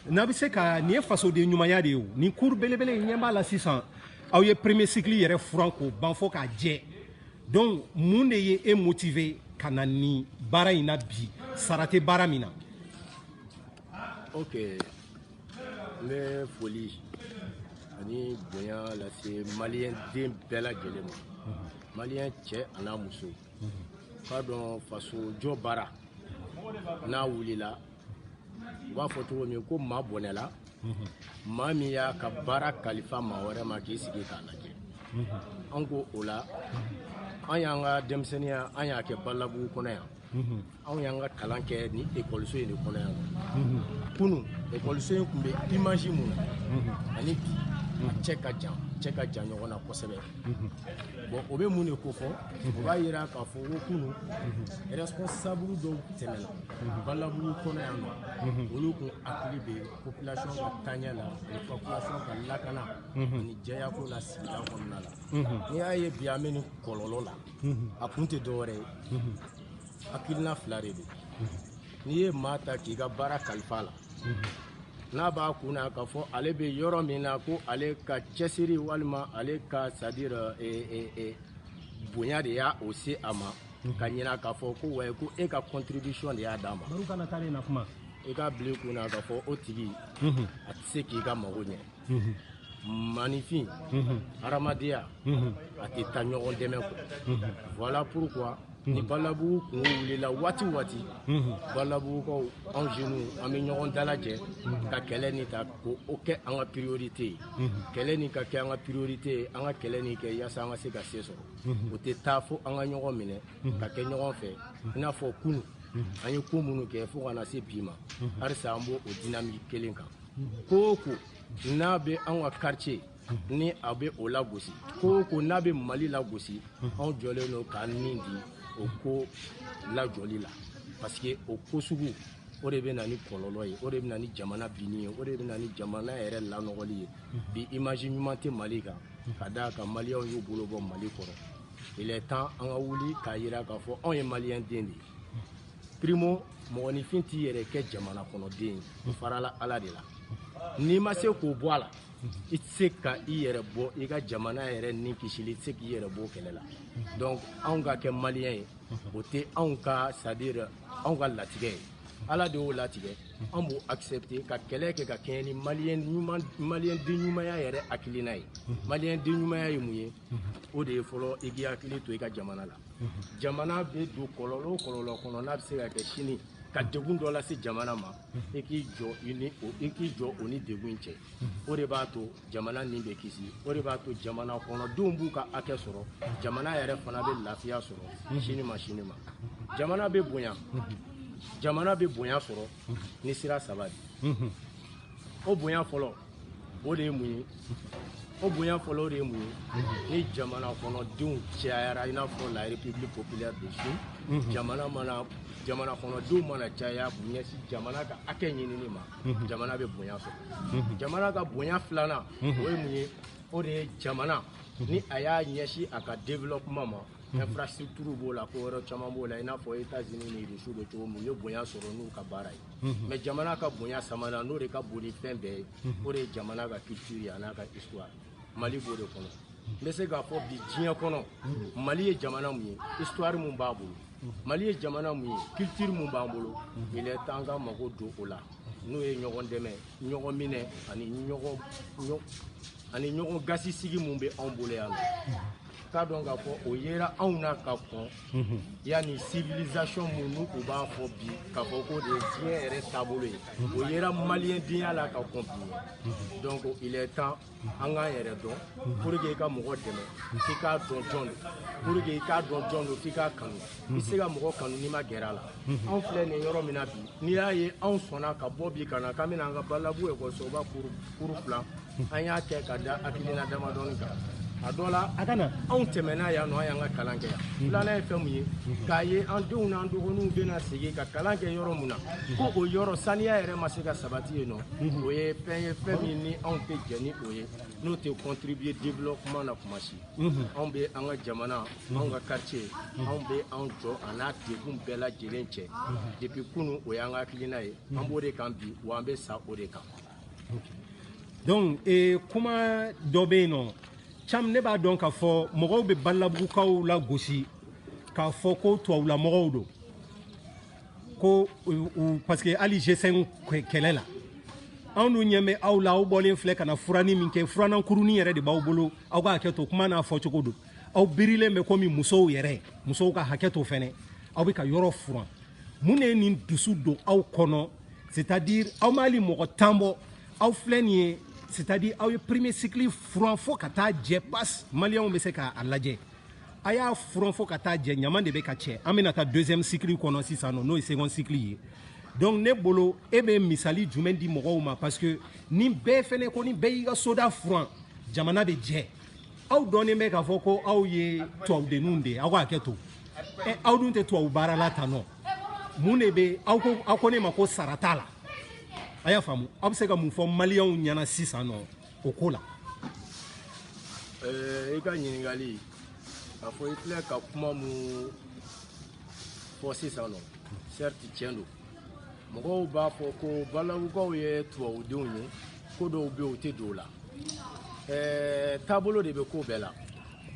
n'a bɛ se ka nin ye fasoden ɲumanya de ye o. Nin cour belebele in ɲɛ b'a la sisan. Aw ye premier cycle yɛrɛ furan k'o ban fo k'a jɛ. donc mun de ye e motive ka na nin baara in na bi sara tɛ baara min na ok n bɛ foli ani bonya lase maliyɛn den bɛɛ lajɛlen ma mhm. maliyɛn cɛ an'a muso mhm. k'a dɔn faso jɔ baara n'a wulila u b'a fɔ cogo min ko maa bɔnɛla maa min y'a ka baara kalifa maa wɛrɛ ma k'i sigi k'a lajɛ an ko o la an y'an ka denmisɛnninya an y'a kɛ balabugu kɔnɔ yan anw y'an ka kalan kɛ ni ekɔliso in de kɔnɔ yan kunu ekɔliso in tun bɛ imaji min na ani bi a cɛ ka jan cɛ ka jan ɲɔgɔn na kosɛbɛ bon o bɛ mun de kofɔ o b'a yira k'a fɔ ko kunu responsable dɔw tɛmɛna balabugu kɔnɔ yan nɔ olu kun hakili bɛ population ka taaɲɛ la ani population ka lakana ani jɛyako la sigida kɔnɔna la n'i y'a ye bi an bɛ nin kɔlɔlɔ la a kun tɛ dɔwɛrɛ ye hakilina fila de don n'i ye maa ta k'i ka baara kalifa a la n'a b'a kun na k'a fɔ ale bɛ yɔrɔ min na ko ale ka cɛsiri walima ale ka sadira bonya de ye o se a ma ka ɲina k'a fɔ ko wayi ko e ka contribution de y'a d'a ma baru kana taa na kuma i k'a bila i kun na k'a fɔ o tigi a tɛ se k'i ka mago ɲɛ maaninfin hadamadenya a tɛ taa ɲɔgɔn dɛmɛ kɔ voilà pourquoi ni balabugu kunko wulila waati waati balabugukaw anw jeunes an bɛ ɲɔgɔn dalajɛ ka kɛlɛ ni ta k'o kɛ an ka priorité ye kɛlɛ ni ka kɛ an ka priorité ye an ka kɛlɛ ni kɛ yaasa an ka se ka se sɔrɔ o tɛ taa fo an ka ɲɔgɔn minɛ ka kɛ ɲɔgɔn fɛ i n'a fɔ kunu an ye ko minnu kɛ fo ka na se bi ma halisa an b'o o dinamiki kelen kan ko o ko n'a bɛ an ka quartier ni a bɛ o lagosi ko o ko n'a bɛ mali lagosi anw jɔlen don k'an ni di o ko lajɔli la parce que o ko sugu o de bɛ na ni kɔlɔlɔ ye o de bɛ na ni jamana binni ye o de bɛ na ni jamana yɛrɛ lanɔgɔli ye bi image ɲuman tɛ mali kan ka d'a kan maliyɛnw y'u bolo bɔ mali kɔrɔ il est temps an ka wuli k'a jira k'a fɔ anw ye maliyɛn den de ye primo mɔgɔninfin t'i yɛrɛ kɛ jamana kɔnɔden ye o farala ala de la n'i ma se k'o bɔ a la i tɛ se ka i yɛrɛ bɔ i ka jamana yɛrɛ ni kisili i tɛ se k'i yɛrɛ bɔ kɛlɛ la donc anw ka kɛ maliyɛn ye o tɛ anw ka c'est à dire anw ka latigɛ ye ala de y'o latigɛ an b'o accepté ka kɛlɛ kɛ ka kɛɲɛ ni maliyɛn ɲuman maliyɛn den ɲumanya yɛrɛ hakilina ye maliyɛn den ɲumanya ye mun ye o de ye fɔlɔ i k'i hakili to i ka jamana la jamana bɛ don kɔlɔlɔ o kɔlɔlɔ kɔnɔ n'a bɛ se ka kɛ sini ka degun dɔ lase jamana ma i k'i jɔ i ni o i k'i jɔ o ni degun in cɛ o de b'a to jamana ni bɛ kisi o de b'a to jamana kɔnɔdenw b'u ka hakɛ sɔrɔ jamana yɛrɛ fana bɛ lafiya sɔrɔ sini ma sini ma jamana bɛ bonya jamana bɛ bonya sɔrɔ ni sira saba de o bonya fɔlɔ o de ye mun ye o bonya fɔlɔ o de ye mun ye ni jamana kɔnɔdenw cayara i n'a fɔ la république populaire de chine jamana mana jamana kɔnɔdenw mana caya k'u ɲɛsin jamana ka hakɛ ɲinini ma mhm. jamana bɛ bonya sɔrɔ mhm. jamana ka bonya filanan mhm. o ye mun ye o de ye jamana ni a y'a ɲɛsin a ka développement ma infrastructure b'o la ko wɛrɛ caman b'o la i n'a fɔ États-Unis ni Russie bɛ cogo min u ye bonya sɔrɔ n'u ka baara ye mais jamana ka bonya sabanan n'o de ka bon ni fɛn bɛɛ ye o de ye jamana ka culture ye a n'a ka histoire Mali b'o de kɔnɔ n bɛ se k'a fɔ bi diɲɛ kɔnɔ Mali ye jamana mun ye histoire mun b'a bolo mali ye jamana mun ye culture mun b'an bolo il est temps ka mago don o la n'o ye ɲɔgɔn dɛmɛ ɲɔgɔn minɛ ani ɲɔgɔn ani ɲɔgɔn gasi sigi mun bɛ anw bolo yan nɔ k'a dɔn k'a fɔ o yera anw na ka kɔn yanni civilisation mun ni u b'a fɔ bi k'a fɔ k'o de ye diɲɛ yɛrɛ taabolo ye o yera maliyɛndenya la ka kɔn bi donc il est temps an k'an yɛrɛ dɔn pour que i ka mɔgɔ dɛmɛ k'i k'a dɔn jɔn don pour que i k'a dɔn jɔn don k'i k'a kanu i tɛ se ka mɔgɔ kanu n'i ma gɛrɛ a la anw filɛ nin yɔrɔ min na bi n'i y'a ye anw sɔnna ka bɔ bi ka na k'an bɛna an ka balabu ekɔlisoba cour cour filan an y'a kɛ ka da hakilina damadɔni kan a dɔ la a kana anw tɛmɛna yan nɔ an y'an ka kalan kɛ yan filanan ye fɛn mun ye k'a ye an denw n'an dɔgɔninw bɛna sigi ka kalan kɛ yɔrɔ mun na ko o yɔrɔ saniya yɛrɛ ma se ka sabati yen nɔ o ye fɛn ye fɛn min ni anw tɛ jɛn ni o ye n'o tɛ contribuer développement na kuma si anw bɛ an ka jamana anw ka quartier anw bɛ anw jɔ a n'a degun bɛɛ lajɛlen cɛ depuis kunu o y'an ka hakilina ye an b'o de kan bi wa an bɛ sa o de kan donc ee kuma dɔ bɛ yen nɔ comme ne b'a dɔn k'a fɔ mɔgɔw bɛ balabugukaw lagosi k'a fɔ ko tubabula mɔgɔw don ko parce que hali G5 kɛlɛ la anw dun ɲɛ bɛ aw la aw bɔlen filɛ ka na furani min kɛ furanan kurunin yɛrɛ de b'aw bolo aw ka hakɛ to kuma n'a fɔcogo don aw birilen bɛ komi musow yɛrɛ musow ka hakɛ to fɛnɛ aw bɛ ka yɔrɔ furan mun de ye nin dusu don aw kɔnɔ c'est à dire aw m'ali mɔgɔ tan bɔ aw filɛ nin ye c'est à dire aw ye premier cycle furan fo ka taa jɛ pas maliyɛnw bɛ se k'a lajɛ a y'a furan fo ka taa jɛ ɲama de bɛ ka cɛ an bɛna taa deuxième cycle kɔnɔ sisan nɔ n'o ye second cycle ye donc ne bolo e bɛ misali jumɛn di mɔgɔw ma parce que ni bɛɛ fɛnɛ ko ni bɛɛ y'i ka soda furan jamana bɛ jɛ aw dɔnnen bɛ k'a fɔ ko aw ye tubabudenninw de ye aw ka hakɛ to ɛ aw dun tɛ tubabu baara la tan nɔ mun de bɛ aw ko aw ko ne ma ko sara t'a la a y'a faamu aw bɛ se ka mun fɔ maliyɛnw ɲɛna sisan nɔ o ko la i ka ɲininkali k'a fɔ i filɛ ka kuma mun fɔ sisan nɔ certes tiɲɛ don mɔgɔw b'a fɔ ko balawukaw ye tubabudenw ye ko dɔw bɛ yen u tɛ don o la taabolo de bɛ ko bɛɛ la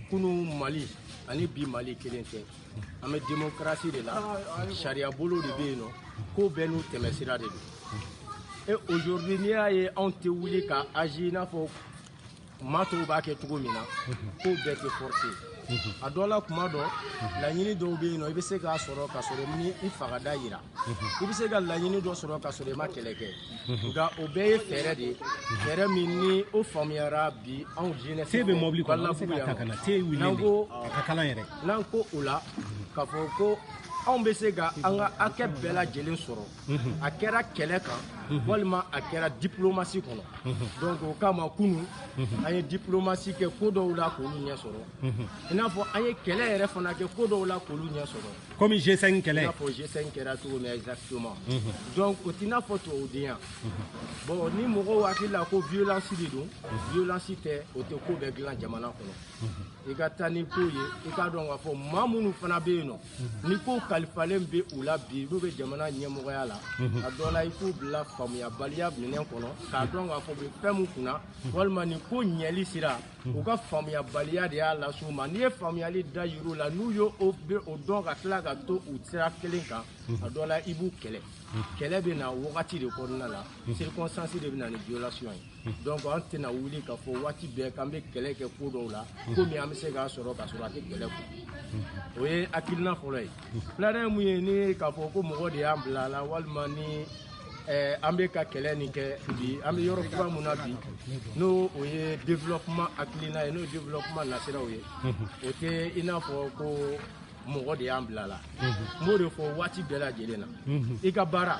kunu mali ani bi mali kelen tɛ an bɛ demokarasi de la sariyabolo de bɛ yen nɔ ko bɛɛ n'u tɛmɛsira de don e aujourd'hui n'i y'a ye anw tɛ wuli ka agir i n'a fɔ maa tɔw b'a kɛ cogo min na ko bɛɛ tɛ force a dɔ la kuma dɔ laɲini dɔw bɛ yen nɔ i bɛ se k'a sɔrɔ ka sɔrɔ i m'i fanga da yira i bɛ se ka laɲini dɔ sɔrɔ ka sɔrɔ i ma kɛlɛ kɛ nka o bɛɛ ye fɛɛrɛ de ye fɛɛrɛ min ni o faamuyara bi anw jeunesse te bɛ mɔbili kɔnɔ an bɛ se k'a ta ka na te wuli n'an ko a ka kalan yɛrɛ n'an ko o la k'a fɔ ko anw bɛ se ka an ka hakɛ bɛɛ lajɛlen sɔrɔ a kɛra kɛlɛ kan walima a kɛra diplomasi kɔnɔ donc o kama kunu an ye diplomasi kɛ ko dɔw la k'olu ɲɛ sɔrɔ i n'a fɔ an ye kɛlɛ yɛrɛ fana kɛ ko dɔw la k'olu ɲɛ sɔrɔ komi G5 kɛlɛ i n'a fɔ G5 kɛra cogo min exactement donc o t'i n'a fɔ tubabudenya bon ni mɔgɔw hakili la ko violence de don violence tɛ o tɛ ko bɛɛ dilan jamana kɔnɔ i ka taa ni ko ye i k'a dɔn k'a fɔ maa minnu fana bɛ yen nɔ ni ko kalifalen bɛ u la bi n'u bɛ jamana ɲɛmɔgɔya la mhm. a dɔ la i k'u bila faamuyabaliya minɛn kɔnɔ k'a dɔn k'a fɔ u bɛ fɛn min kunna mhm. walima nin ko ɲɛli sira mhm. u ka faamuyabaliya de y'a lase u ma n'i ye faamuyali da yir'u la n'u ye o bɛ o dɔn ka tila ka to u sira kelen kan a dɔ la i b'u kɛlɛ kɛlɛ bɛ na wagati de kɔnɔna la circonstance de bɛ na ni violation ye donc an tɛna wuli k'a fɔ waati bɛɛ k'an bɛ kɛlɛ kɛ ko dɔw la komi an bɛ se k'a sɔrɔ k'a sɔrɔ a tɛ kɛlɛ kɔ o ye hakilina fɔlɔ ye filanan ye mun ye ni k'a fɔ ko mɔgɔ de y'an bila a la walima ni eh, an bɛ ka kɛlɛ nin kɛ bi an bɛ yɔrɔ kura min na bi n'o o ye développement hakilina ye n'o ye développement nasiraw ye o tɛ i n'a fɔ ko mɔgɔ de y'an bila la n b'o de fɔ waati bɛɛ lajɛlen na i ka baara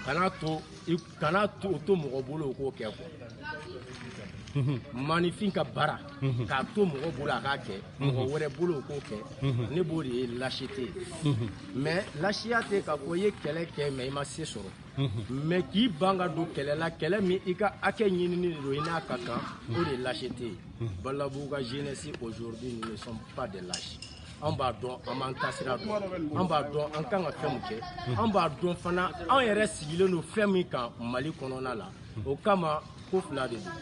kana to i kana to o to mɔgɔ bolo o k'o kɛ quoi maaninfin ka baara k'a to mɔgɔ bolo a k'a kɛ mɔgɔ wɛrɛ bolo o k'o kɛ ne b'o de ye lâcheté ye mais lasiya tɛ k'a fɔ i ye kɛlɛ kɛ mais i ma se sɔrɔ mais k'i ban ka don kɛlɛ la kɛlɛ min i ka hakɛ ɲinini de don i n'a ka kan o de ye lâcheté ye balabu ka jeunesse aujourd'hui nous ne sommes pas des lâches an b'a dɔn an b'an taasira dɔn an b'a dɔn an kan ka fɛn min kɛ an b'a dɔn fana an yɛrɛ sigilen don fɛn min kan mali kɔnɔna la o kama ko fila de don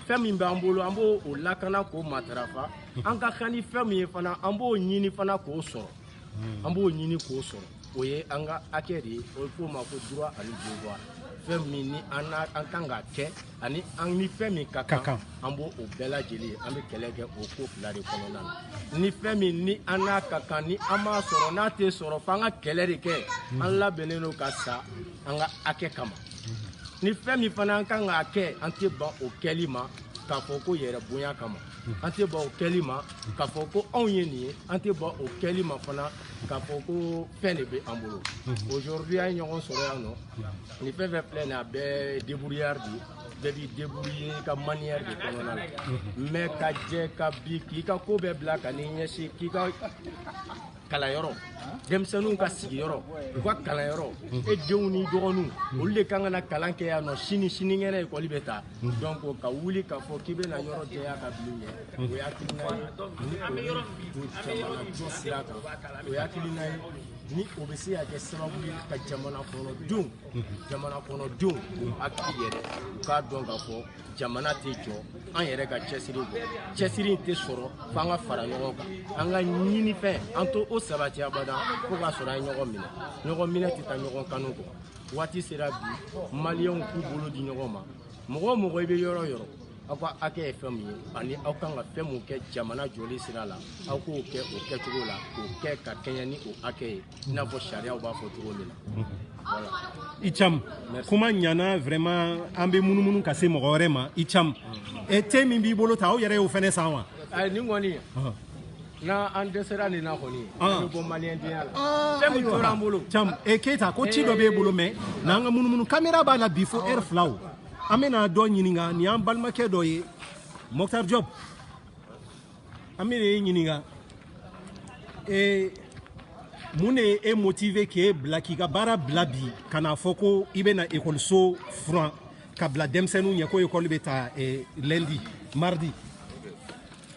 fɛn min b'an bolo an b'o o lakana k'o matarafa an ka kan ni fɛn min ye fana an b'o ɲini fana k'o sɔrɔ an b'o ɲini k'o sɔrɔ o ye an ka hakɛ de ye o bɛ f'o ma ko droit ani devoir fɛn min ni an an kan ka kɛ ani an ni fɛn min ka kan an b'o o bɛɛ lajɛlen an bɛ kɛlɛ kɛ o ko fila de kɔnɔna na ni fɛn min ni an n'a ka kan ni an m'a sɔrɔ n'a tɛ sɔrɔ f'an ka kɛlɛ de kɛ an labɛnnen don ka sa an ka hakɛ kama ni fɛn min fana an kan k'a kɛ an tɛ ban o kɛli ma k'a fɔ ko yɛrɛbonya kama an tɛ ban o kɛli ma k'a fɔ ko anw ye nin ye an tɛ ban o kɛli ma fana k'a fɔ ko fɛn de bɛ an bolo aujourd'hui an ye ɲɔgɔn sɔrɔ yan nɔ ni fɛn fɛn filɛ nin a bɛɛ débrouillard de bɛɛ b'i débrouiller ka manière de kɔnɔna la mais ka jɛ ka bi k'i ka ko bɛɛ bila ka n'i ɲɛsin k'i ka kalanyɔrɔ denmisɛnninw ka sigiyɔrɔ u ka kalanyɔrɔ e denw ni dɔgɔninw olu de kan ka na kalan kɛ yan nɔ sini sinikɛnɛ ekɔli bɛ ta donc ka wuli k'a fɔ k'i bɛna yɔrɔ jɛya ka bil'u ɲɛ o ye hakilina ye ni o ye ko caman na sira kan o ye hakilina ye ni o bɛ se ka kɛ sababu ye ka jamana kɔnɔdenw jamana kɔnɔdenw u hakili yɛlɛ u k'a dɔn k'a fɔ jamana tɛ jɔ an yɛrɛ ka cɛsiri kɔ cɛsiri in tɛ sɔrɔ f'an ka fara ɲɔgɔn kan an ka ɲinifɛn an t'o sabati abada fo k'a sɔrɔ an ye ɲɔgɔn minɛ ɲɔgɔn minɛ tɛ taa ɲɔgɔn kanu kɔ waati sera bi maliyɛnw k'u bolo di ɲɔgɔn ma mɔgɔ o mɔgɔ i bɛ yɔrɔ o yɔrɔ aw ka hakɛ ye fɛn min ye ani aw kan ka fɛn min kɛ jamana jɔli sira la aw k'o kɛ o kɛcogo la k'o kɛ ka kɛɲɛ ni o hakɛ ye i n'a fɔ sariyaw b'a fɔ cogo min na voilà. i cam kuma ɲana vraiment an bɛ munumunu ka se mɔgɔ wɛrɛ ma i cam e te min b'i bolo ta aw yɛrɛ y'o fɛnɛ san wa nin kɔni N'an an dɛsɛra nin na kɔni, an bɛ bɔ maliyɛn denya la, aa, fɛn min tora an bolo, Cam, e Keyita ko ci dɔ b'e bolo mais na an ka munumunu kamera b'a la bi fo heure fila o, an bɛna dɔ ɲininka nin y'an balimakɛ dɔ ye Mɔktar Jɔp, an bɛna e ɲininka ee mun de ye e motiver k'e bila k'i ka baara bila bi ka n'a fɔ ko i bɛna ekɔliso furan ka bila denmisɛnninw ɲɛ ko ekɔli bɛ ta eh, lundi mardi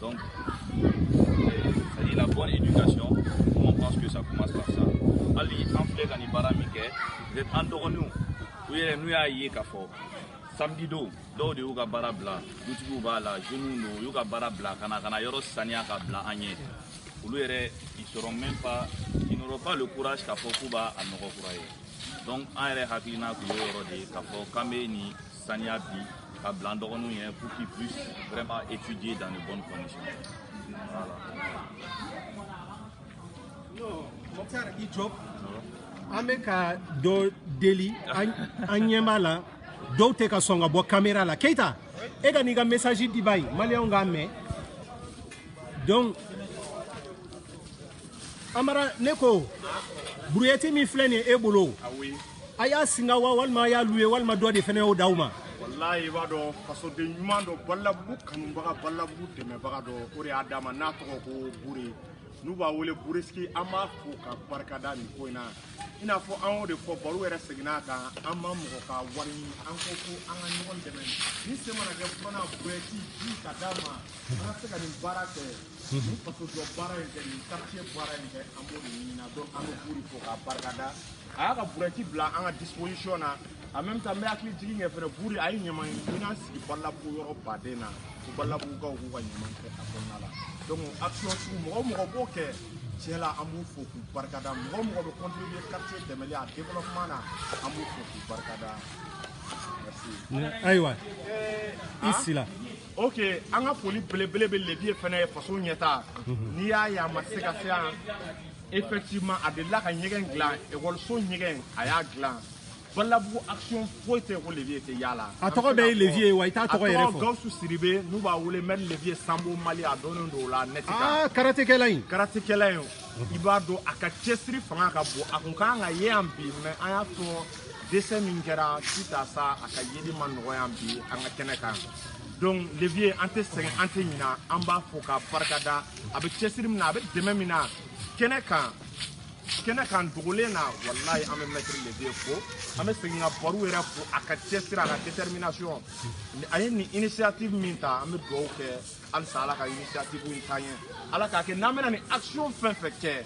Donc, c'est la bonne éducation. On pense que ça commence par ça. Hali, en fait, an bɛ baara min kɛ, denmisɛnninw, denmisɛnninw y'a ye k'a fɔ samedi don dɔw de y'u ka baara bila dutigiw b'a la jeunes don u y'u ka baara bila ka na ka na yɔrɔ saniya ka bila an ye olu yɛrɛ ils oseront même pas ils n'auront pas le courage k'a fɔ k'u b'a a nɔgɔ kura ye donc an yɛrɛ hakilina tun y'o yɔrɔ de ye k'a fɔ k'an bɛ nin saniya bi ka bila an dɔgɔninw ye pour qu'ils puissent vraiment étudier dans de bonnes conditions voilà. Mokhtar i Diop an bɛ ka dɔ deli an ɲɛ b'a la dɔw tɛ ka sɔn ka bɔ kamera la Keita e ka n'i ka message di bani maliyɛnw k'a mɛn donc Amara ne ko brouillette min filɛ nin ye e bolo a y'a singa wa walima a y'a louer walima dɔ de fana y'o d'aw ma walayi i b'a dɔn fasoden ɲuman dɔ balabugu kanubaga balabugu dɛmɛbaga dɔ o de y'a d'an ma n'a tɔgɔ ko bure n'u b'a wele buresiki an b'a fo k'a barikada nin ko in na i n'a fɔ an y'o de fɔ baro yɛrɛ seginna a kan an ma mɔgɔ ka wari ɲini an ko ko an ka ɲɔgɔn dɛmɛ ni se mana kɛ fana burɛti ɲini ka d'an ma an ka se ka nin baara kɛ nin fasojɔ baara in kɛ nin quartier baara in kɛ an b'o de ɲinina donc an bɛ buri fo k'a barikada a y'a ka burɛti bila an ka disposition na en même temps n bɛ hakili jigin kɛ fɛnɛ buri a ye ɲaman minan sigi balabugu yɔrɔ baden na ko balabugukaw k'u ka ɲaman kɛ a kɔnɔna la donc action sugu mɔgɔ o mɔgɔ b'o kɛ tiɲɛ la an b'u fo k'u barikada mɔgɔ o mɔgɔ bɛ contribuer quartier dɛmɛli a développement na an b'u fo k'u barikada ayiwa i sila ok an ka foli belebele bɛ Levieux fana ye faso ɲɛtaa n'i y'a ye a ma se ka se yan Effectivement, a delila ka ɲɛgɛn dilan ekɔliso ɲɛgɛn a y'a dilan balabugu action foyi tɛ ko Levieux tɛ y'a la a tɔgɔ bɛɛ ye Levieux ye wa i t'a tɔgɔ yɛrɛ fɔ a tɔgɔ gawusu sidibe n'u b'a wele maître Levieux sanbo mali a dɔnnen don o la nɛti kan aa karatekɛla in karatekɛla in i b'a dɔn a ka cɛsiri fanga ka bon a kun kan ka ye yan bi mais an y'a fɔ décès min kɛra suite à ça a ka yeli ma nɔgɔya bi an ka kɛnɛ kan donc Levieux an tɛ sɛgɛn an tɛ ɲina an b'a fo k'a barikada a bɛ cɛsiri min na a bɛ dɛmɛ min na kɛnɛ kan kɛnɛ kan dogolen na walayi an bɛ mɛtiri Levieux fo an bɛ segin ka Baru yɛrɛ fo a ka cɛsiri a ka détermination a ye nin initiative min ta an bɛ dugawu kɛ halisa ala ka initiative in taa ɲɛ ala k'a kɛ n'an bɛna nin action fɛn fɛn kɛ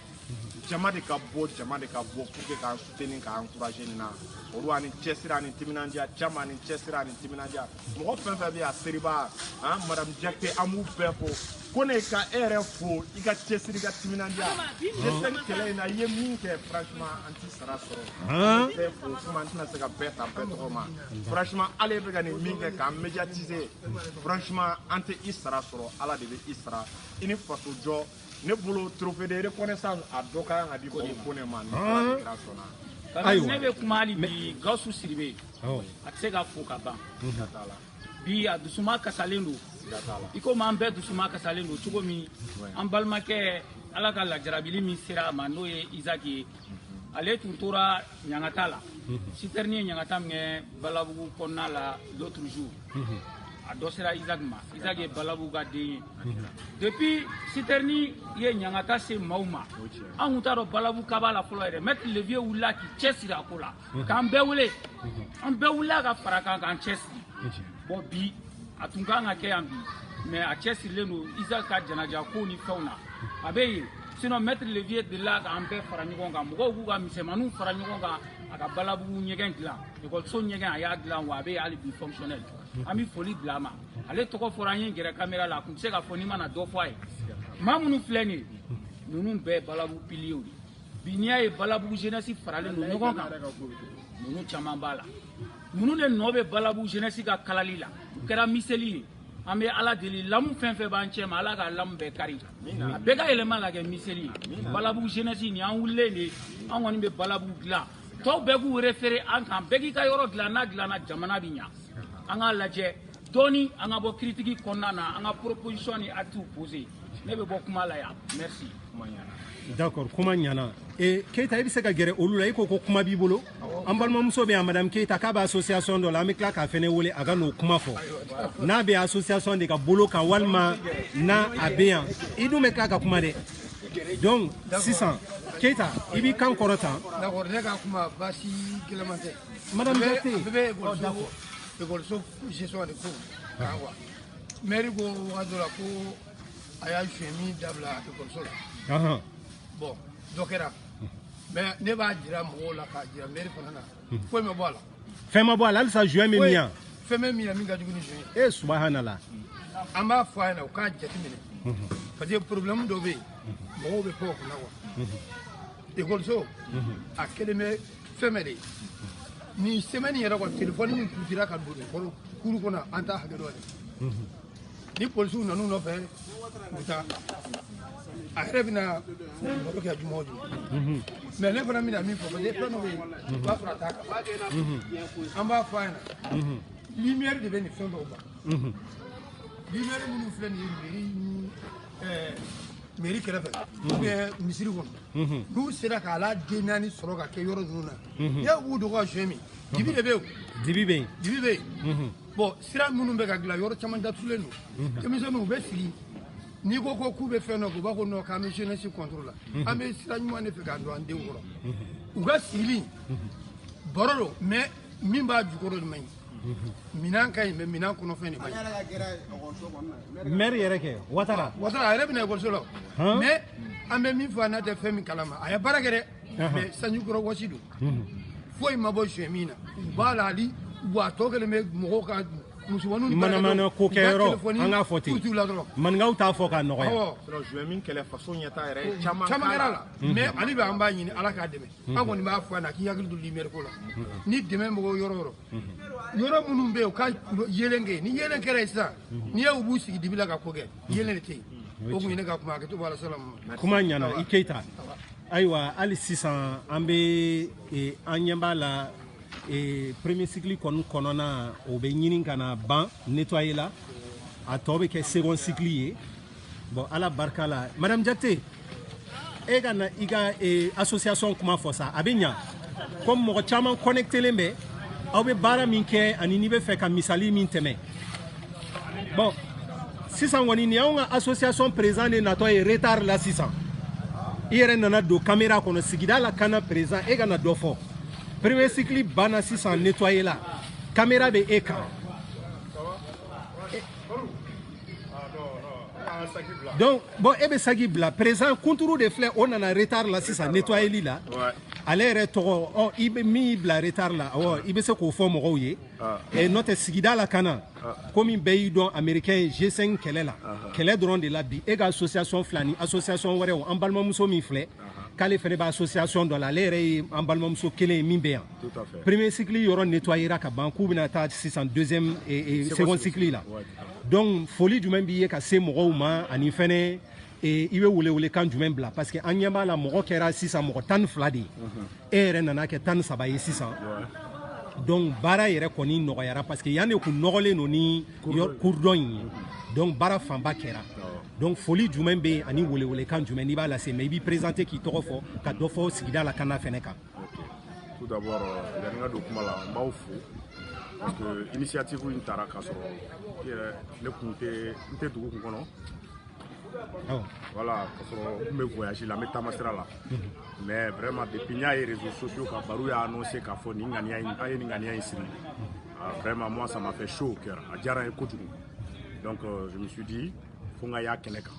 jama de ka bɔ jama de ka bɔ pour que k'an soutenir k'an encourager nin na olu a ni cɛsiri a ni timinandiya caman a ni cɛsiri a ni timinandiya mɔgɔ fɛn fɛn bɛ yan seriba ani madamu jakite an b'u bɛɛ fo Kone ka e yɛrɛ fo i ka cɛsiri i ka timinandiya dɛsɛ kɛlɛ in na i ye min kɛ franchement an t'i sara sɔrɔ an tɛ fo kuma an tɛna se ka bɛɛ ta bɛɛ tɔgɔ ma franchement ale bɛ ka nin min kɛ k'an médiatiser franchement an tɛ i sara sɔrɔ ala de bɛ i sara i ni faso jɔ ne bolo trophée de reconnaissance a dɔ ka kan ka di Kone ma ni Ala kira sɔnna ayiwa ne bɛ kuma hali bi Gawusu Sidibe a tɛ se ka fo ka ban bi a dusuma kasalen don i komi an bɛɛ dusuma kasalen don cogo min an balimakɛ Ala ka lajarabili min sera a ma n'o ye Isaki ye ale tun tora ɲangata la sitɛrini ye ɲangata min kɛ balabugu kɔnɔna la l'autre jour a dɔ sera isaac ma isaac ye balabugu ka den ye depuis sitɛrini ye ɲangata se maaw ma an kun t'a dɔn balabuguka b'a la fɔlɔ yɛrɛ maître Levieux wulila k'i cɛ siri a ko la k'an bɛɛ wele an bɛɛ wulila ka fara a kan k'an cɛ siri bɔn bi a tun kan ka kɛ yan bi mɛ a cɛ sirilen don isaac ka janaja kow ni fɛnw na a bɛ yen sinon maître Levieux delila k'an bɛɛ fara ɲɔgɔn kan mɔgɔw k'u ka misɛnmaninw fara ɲɔgɔn kan a ka balabugu ɲɛgɛn dilan ekɔliso ɲɛgɛn a y'a dilan wa a bɛ yen hali bi fonctionnel an bɛ foli bila a ma ale tɔgɔ fɔra an ye gɛrɛ kamera la a tun tɛ se ka fɔ n'i mana dɔ fɔ a ye maa minnu filɛ nin ye ninnu bɛɛ ye balabugu piliyew de bi n'i y'a ye balabugu jeunesse faralen don ɲɔgɔn kan ninnu caman b'a la ninnu de nɔ bɛ balabugu jeunesse ka kalali la u kɛra miseli ye an bɛ ala deli lamu fɛn fɛn b'an cɛ ma ala ka lamu bɛɛ kari a bɛɛ ka yɛlɛma ka kɛ miseli ye balabugu jenɛsi nin an wulilen de an kɔni bɛ balabugu dilan tɔw bɛɛ k'u refere an kan bɛɛ k'i ka yɔrɔ dilan n'a dilanna jamana bɛ ɲa an k'a lajɛ dɔɔni an ka bɔ kiritiki kɔnɔna na an ka proposition ni actes poser ne bɛ bɔ kuma la yan merci D'accord kuma ɲana keyita i bɛ se ka gɛrɛ olu la i ko ko kuma b'i bolo an balimamuso bɛ yan madamu keyita k'a bɛ association dɔ la an bɛ tila k'a fana wele a ka n'o kuma fɔ n'a bɛ association de ka bolo kan walima n'a bɛ yan i dun bɛ tila ka kuma dɛ donc sisan keyita i b'i kan kɔrɔta a ye joint min dabila ekɔliso la bon dɔ kɛra mais ne b'a jira mɔgɔw la k'a jira mɛri fana na foyi ma bɔ a la fɛn ma bɔ a la halisa joint bɛ min yan fɛn bɛ min yan min ka jugu ni joint ye e subahanala an b'a fɔ a ɲɛna u k'a jateminɛ parce que problème dɔ bɛ yen mɔgɔw bɛ kɔɔ kunna wa ekɔliso a kɛlen bɛ fɛn bɛɛ de ye nin semaine yɛrɛ kɔ telefɔni min kutira ka don kuru kɔnɔ an t'a hakɛ dɔn dɛ ni polisiw nan'u nɔfɛ u bɛ taa a yɛrɛ bɛna baro kɛ juma o juma mais ne fana bɛna min fɔ parce que fɛn dɔ bɛ yen u b'a sɔrɔ a t'a kan an b'a fɔ a ɲɛna lumière de bɛ nin fɛn dɔw ban lumière minnu filɛ nin ye mairie ni ɛɛ mairie kɛrɛfɛ ou bien misiri kɔnɔ n'u sera k'a la den naani sɔrɔ ka kɛ yɔrɔ ninnu na n'i ye u b'u dogo ka joint min dibi de bɛ yen o dibi bɛ yen dibi bɛ yen bon sira minnu bɛ ka dilan yɔrɔ caman datugulen don denmisɛnninw u bɛ sigi n'i ko ko k'u bɛ fɛn dɔ kɛ u b'a kɔnɔ k'an bɛ jeunesse contre la an bɛ sira ɲuman de fɛ k'a don an denw kɔrɔ u ka sigili baro don mais min b'a jukɔrɔ de man ɲi minan ka ɲi mais minan kɔnɔfɛn de man ɲi maire yɛrɛ kɛ watara watara a yɛrɛ bɛna ekɔliso la mais an bɛ min fɔ a n'a tɛ fɛn min kalama a ye baara kɛ dɛ mais sanji kɔrɔ wɔsi don foyi ma bɔ joint min na b'a la hali wa tɔ kɛlen bɛ mɔgɔw ka musomaninw manamana ko kɛ yɔrɔ an k'a fɔ ten maninkaw t'a fɔ ka nɔgɔya joint min kɛlɛ faso ɲɛtaa yɛrɛ mm. caman kɛra la mais mm. ale bɛ an b'a ɲini ala k'a dɛmɛ mm. an kɔni b'a fɔ a na k'i hakili to lumière ko la ni dɛmɛ mɔgɔw yɔrɔ yɔrɔ yɔrɔ minnu bɛ yen u ka yeelen kɛ ni yeelen kɛra yen sisan n'i ye u b'u sigi dibi la ka ko kɛ yeelen de tɛ yen o tun ye ne ka kuma hakɛto b'a la salamu kuma ɲana i keyita ayiwa hali sisan an bɛ eh, an ɲɛ b'a la eh, premier cycle kɔni kɔnɔna o bɛ ɲini ka na ban nettoyer la a tɔ bɛ kɛ second cycle ye bon ala barika la madame jakite e ka na i ka eh, association kuma fɔ sa a bɛ ɲa comme mɔgɔ caman connectelen bɛ aw bɛ baara min kɛ ani n'i bɛ fɛ ka misali min tɛmɛ bon sisan kɔni nin y'anw ka association président de natɔ ye retard la sisan i yɛrɛ nana don kamera kɔnɔ sigida lakana président e ka na dɔ fɔ premier cycle banna sisan nettoyer la kamera bɛ e kan donc bon e bɛ saki bila président kunturu de filɛ o nana retard la sisan nettoyeli la ale yɛrɛ tɔgɔ ɔ i bɛ mun y'i bila retard la awɔ i bɛ se k'o fɔ mɔgɔw ye ɛ n'o tɛ sigida lakana komi bɛɛ y'i dɔn américain G5 kɛlɛ la kɛlɛ dɔrɔn de la bi e ka association fila ni association wɛrɛw an balimamuso min filɛ k'ale fana bɛ association dɔ la ale yɛrɛ ye an balimamuso kelen ye min bɛ yan premier cycle yɔrɔ nettoyera ka ban k'u bɛna taa sisan deuxième second cycle la donc foli jumɛn b'i ye ka se mɔgɔw ma ani fɛnɛ i bɛ welewelekan jumɛn bila parce que an ɲɛ b'a la mɔgɔ kɛra sisan mɔgɔ tan ni fila de ye e yɛrɛ nana kɛ tan ni saba ye sisan donc baara yɛrɛ kɔni nɔgɔyara parce que yan de kun nɔgɔlen don ni kurdɔn in ye donc baara fanba kɛra donc foli jumɛn bɛ yen ani welewelekan jumɛn n'i b'a lase mais i b'i présenter k'i tɔgɔ fɔ ka dɔ fɔ sigida lakana fɛnɛ kan tout d'abord euh, yani n ka don kuma la n b'aw fo parce que initiative in tara k'a sɔrɔ yɛrɛ ne kun tɛ n tɛ dugu kun kɔnɔ voilà ka sɔrɔ n bɛ voyage la n bɛ taama sira la mais vraiment depuis n y'a ye réseaux sociaux kan baro y'a annoncé k'a fɔ nin ŋaniya in a ye nin ŋaniya in siri vraiment moi ça m'a fait chaud au cœur a diyara n ye kojugu donc euh, je me suis dit ko n ka y'a kɛnɛ kan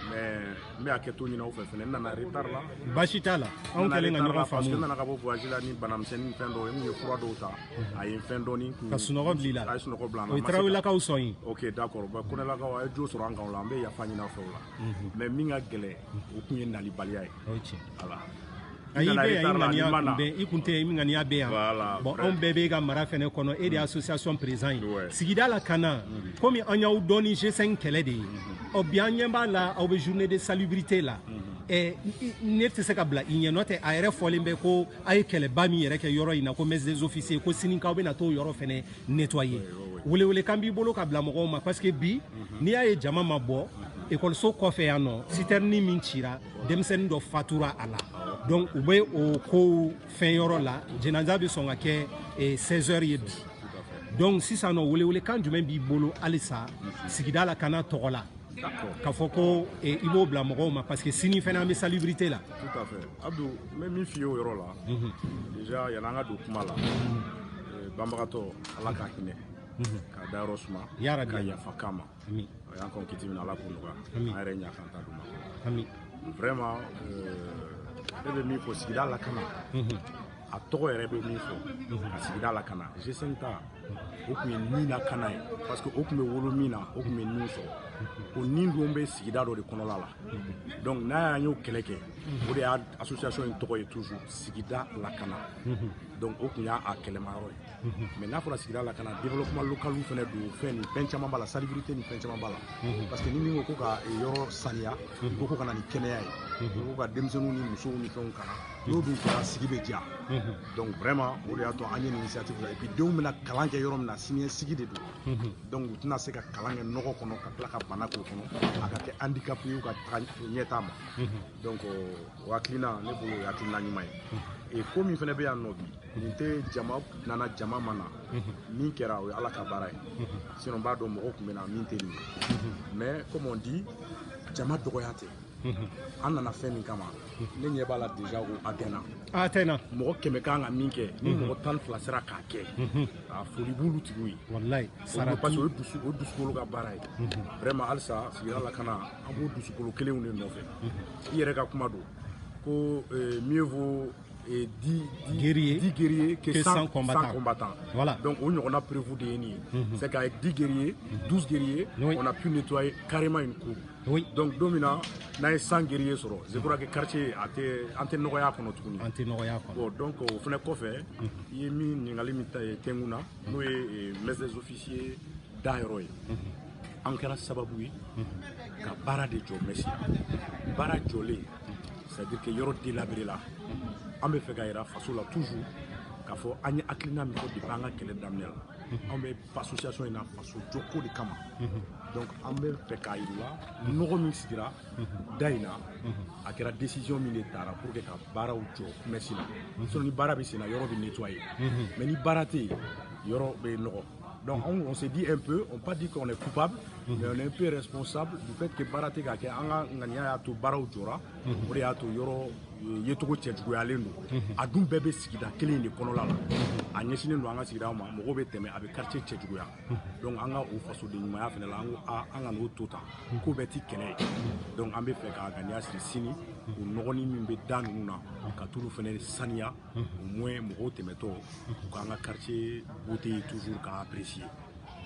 mais n bɛ hakɛto ɲini aw fɛ fɛnɛ n nana retard la baasi t'a la anw kɛlen ka ɲɔgɔn faamu n nana ka bɔ voyage la ni banamisɛnnin fɛn dɔw ye n ye fura dɔw ta a ye n fɛn dɔɔni ka sunɔgɔ bila i la a ye sunɔgɔ bila n na o ye tarawelelakaw sɔn ye ok d'accord ba kɔnɛlakaw a ye jo sɔrɔ an kan o la an bɛ yafa ɲini aw fɛ o la mais min ka gɛlɛn o tun ye nabaliya ye o ye tiɲɛ voilà n'i bɛ yan i ŋaniya tun bɛ i tun tɛ yan i ŋaniya bɛ yan bon anw bɛɛ b'e ka mara fɛnɛ kɔnɔ e de ye association président ye sigida lakana komi an y'aw dɔn ni g5 kɛlɛ de ye ɔ bi an ɲɛ b'a la aw bɛ journée de salubrité la Eh, ne tɛ se ka bila i ɲɛ nɔntɛ a yɛrɛ fɔlen bɛ ko a ye kɛlɛba min yɛrɛ kɛ yɔrɔ in na ko mess des officiers ko sini k'aw bɛna t'o yɔrɔ fɛnɛ nettoyer welewelekan b'i bolo ka bila mɔgɔw ma parce que bi mhm. n'i y'a ye jama ma bɔ mhm. ekɔliso kɔfɛ yan nɔ citerne min cira denmisɛnnin dɔ fatura a la donc u bɛ o kow fɛn yɔrɔ la jenaza bɛ sɔn ka kɛ 16 heures ye bi donc sisan nɔ welewelekan jumɛn b'i bolo halisa mhm. sigida lakana tɔgɔ la k'a fɔ ko i b'o bila mɔgɔw ma parce que sini fana an bɛ salubrité la tout à fait abdu n bɛ min f'i ye o yɔrɔ la déjà yann'an ka don kuma la eh, banbagatɔ ala ka hinɛ mhm. k'a dayɔrɔ suma ka yafa k'a ma a y'an kɔn kiti min na ala k'o nɔgɔya an yɛrɛ ɲa k'an ta d'u ma vraiment eh, ne bɛ min fɔ sigida lakana mhm. a tɔgɔ yɛrɛ bɛ min fɔ mhm. ka sigida lakana g5 ta o tun ye ni lakana ye parce que o tun bɛ wolo min na o tun bɛ nin sɔrɔ o nin don bɛ sigida dɔ de kɔnɔla la donc n'a y'an y'o kɛlɛ kɛ o de y'a association in tɔgɔ ye toujours sigida lakana donc o tun y'a kɛlɛma yɔrɔ ye mais n'a fɔra sigida lakana développement local fɛnɛ don fɛn ni fɛn caman b'a la salubrité ni fɛn caman b'a la parce que ni min ko ko ka yɔrɔ saniya ko ko ka na ni kɛnɛya ye ko ka denmisɛnninw ni musow ni fɛnw kalan n'o dun kɛra sigi bɛ diya donc vraiment o de y'a to an ye nin initiative ta et puis denw bɛna kalan kɛ yɔrɔ min na siniɲɛsigi de don donc u tɛna se ka kalan kɛ nɔgɔ kɔnɔ ka tila ka bana k'o kɔnɔ a ka kɛ handicap ye u ka taga ɲɛtaa ma donc o hakilina ne bolo o hakilina ɲuman ye ko min fana bɛ yan nɔ bi nin tɛ jama nana jama ma na min kɛra o ye ala ka baara ye sinon n b'a dɔn mɔgɔ tun bɛ na min tɛ nin ye mais comme on dit jama dɔgɔya tɛ an nana fɛn min kama ne ɲɛ b'a la déjà ko a tɛna a tɛna mɔgɔ kɛmɛ kan ka min kɛ ni mɔgɔ tan fila sera k'a kɛ a foli b'olu tigiw ye walayi parce que o ye dusu o dusukolo ka baara ye vraiment halisa sigida lakana an b'u dusukolo kelenw de nɔfɛ i yɛrɛ ka kuma don ko eh, mieux vaut eh, di di- Guerrier 10 guerriers que que 100 100 combattants. 100 combattants. Voilà. donc o ɲɔgɔnna preuve de ye nin ye c'est qu'avec 10 guerriers 12 guerriers Oui. on a pu nettoyer carrément une cour Oui. donc don min na n'an ye 100 guerriers sɔrɔ je crois que quartier a tɛ an tɛ nɔgɔ ye a kɔnɔ tuguni an tɛ nɔgɔ y'a kɔnɔ bon donc o fana kɔfɛ i ye min ɲininkali min ta ye tɛnkun na n'o ye eh, messe des officiers dayɔrɔ ye an kɛra sababu ye ka baara de jɔ mɛsi baara jɔlen c'est à dire que yɔrɔ délabré la an bɛ fɛ k'a yira faso la toujours k'a fɔ an ye hakilina min fɔ depuis an ka kɛlɛ daminɛ la anw bɛ association in na faso jɔko de kama donc an bɛ fɛ k'a yir'u la nɔgɔ min sigira da in na a kɛra décision min de tara pour que ka baaraw jɔ mɛsi la sinon ni baara bɛ senna yɔrɔ bɛ nettoyer mais ni baara tɛ yen yɔrɔ bɛ nɔgɔ Donc on, se dit un peu, on pas dit qu'on est coupable, mhm. mais on est un peu responsable du fait que baara tɛ ka kɛ an ka ŋaniya y'a to baaraw jɔra, mhm. o de y'a to yɔrɔ euh, yecogo cɛjuguyalen don. Mhm. An dun bɛɛ bɛ sigida kelen in de kɔnɔla la. A ɲɛsinnen don an ka sigidaw ma, mɔgɔw bɛ tɛmɛ a bɛ quartier cɛjuguya. Donc an ka o fasoden ɲumanya fana la, an ko a an kan'o to tan, k'o bɛɛ tɛ kɛlɛ ye. Donc an bɛ fɛ ka ŋaniya siri sini, o nɔgɔni min bɛ da ninnu na, ka t'olu fana saniya. au moins mɔgɔw tɛmɛtɔ u k'an ka quartier beauté ye toujours k'a apprécier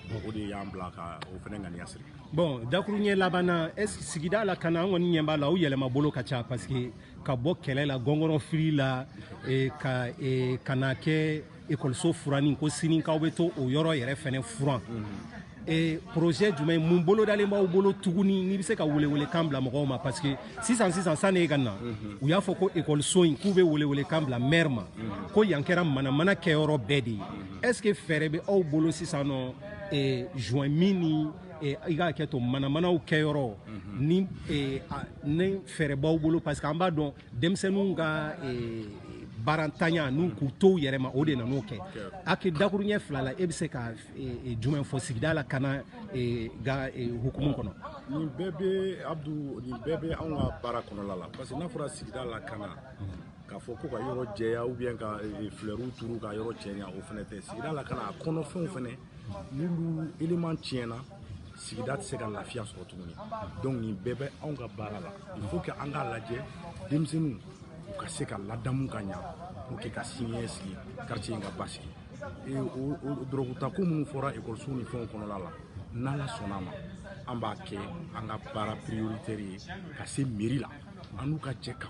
donc o de y'an bila ka o fana ŋaniya siri bon dakuruɲɛ laban na e, sigida lakana an kɔni ɲɛ b'a la aw yɛlɛma bolo ka ca parce que ka bɔ kɛlɛ la gɔngɔrɔ fili la e, ka e, ka na kɛ ekɔliso furanni ko sini k'aw bɛ t'o yɔrɔ yɛrɛ fana furan e projet jumɛn mun bolodalen b'aw bolo tuguni n'i bɛ se ka welewelekan bila mɔgɔw ma parce que sisan sisan sanni e ka na mhm. u y'a fɔ ko ekɔliso in k'u bɛ welewelekan bila maire ma mhm. ko yan kɛra manamana kɛyɔrɔ bɛɛ de ye mhm. est ce que fɛɛrɛ bɛ aw bolo sisan nɔ e, joint minni e, i ka hakɛ to manamanaw kɛyɔrɔ ni e, ni fɛɛrɛ b'aw bolo parce que an b'a dɔn denmisɛnninw ka eh, baarantanya ni k'u to u yɛrɛ ma o de nan'o kɛ ake dakuruɲɛ fila la e bɛ se ka eh, eh, jumɛn fɔ sigida lakana eh, ka eh, hukumu kɔnɔ nin bɛɛ bɛ abdu nin bɛɛ bɛ anw ka baara kɔnɔla la parce que n'a fɔra sigida lakana k'a fɔ ko ka yɔrɔ jɛya ou bien ka eh, flɛriw turu ka yɔrɔ cɛɲa o fana tɛ sigida lakana a kɔnɔfɛnw fana n'olu eleman tiɲɛna sigida tɛ se ka lafiya sɔrɔ tuguni donc nin bɛɛ bɛ anw ka baara la il faut que an k'a lajɛ denmisɛnninw u ka se ka ladamu ka ɲa pour que ka siniɲɛ sigi quartier in ka basigi o dɔrɔgutako minnu fɔra ekɔlisow ni fɛnw kɔnɔla la n'ala sɔnna a ma an b'a kɛ an ka baara prioritaire ye ka se meri la an n'u ka jɛ ka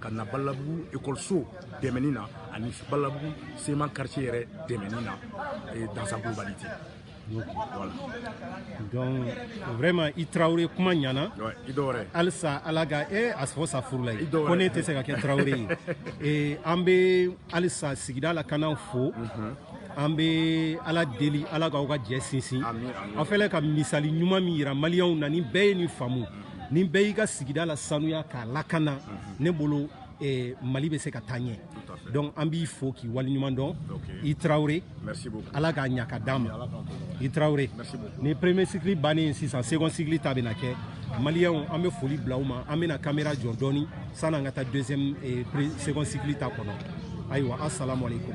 ka na badalabugu ekɔliso dɛmɛni na ani badalabugu sema quartier yɛrɛ dɛmɛni na eh, dans sa globalité voilà. donc vraiment i tarawele kuma ɲana halisa ala ka e a fɔ sa furu la ye ko ne tɛ se ka kɛ tarawele ye eh, an bɛ halisa sigida lakana fo mhm. an bɛ ala deli ala k'aw ka jɛ sinsin aw fɛlɛ ka misali ɲuman min yira maliyɛnw na ni bɛɛ ye nin faamu ni bɛɛ y'i ka sigida lasanuya k'a lakana ne bolo eh, mali bɛ se ka taa ɲɛ donc an b'i fo k'i waleɲuman dɔn i tarawele ala k'a ɲa k'a d'an ma i tarawele nin premier cycle bannen ye sisan second cycle ta bɛna kɛ maliyɛnw an bɛ foli bila aw ma an bɛna kamera jɔ dɔɔni san'an ka taa deuxième eh, second cycle ta kɔnɔ ayiwa asalamu aleykum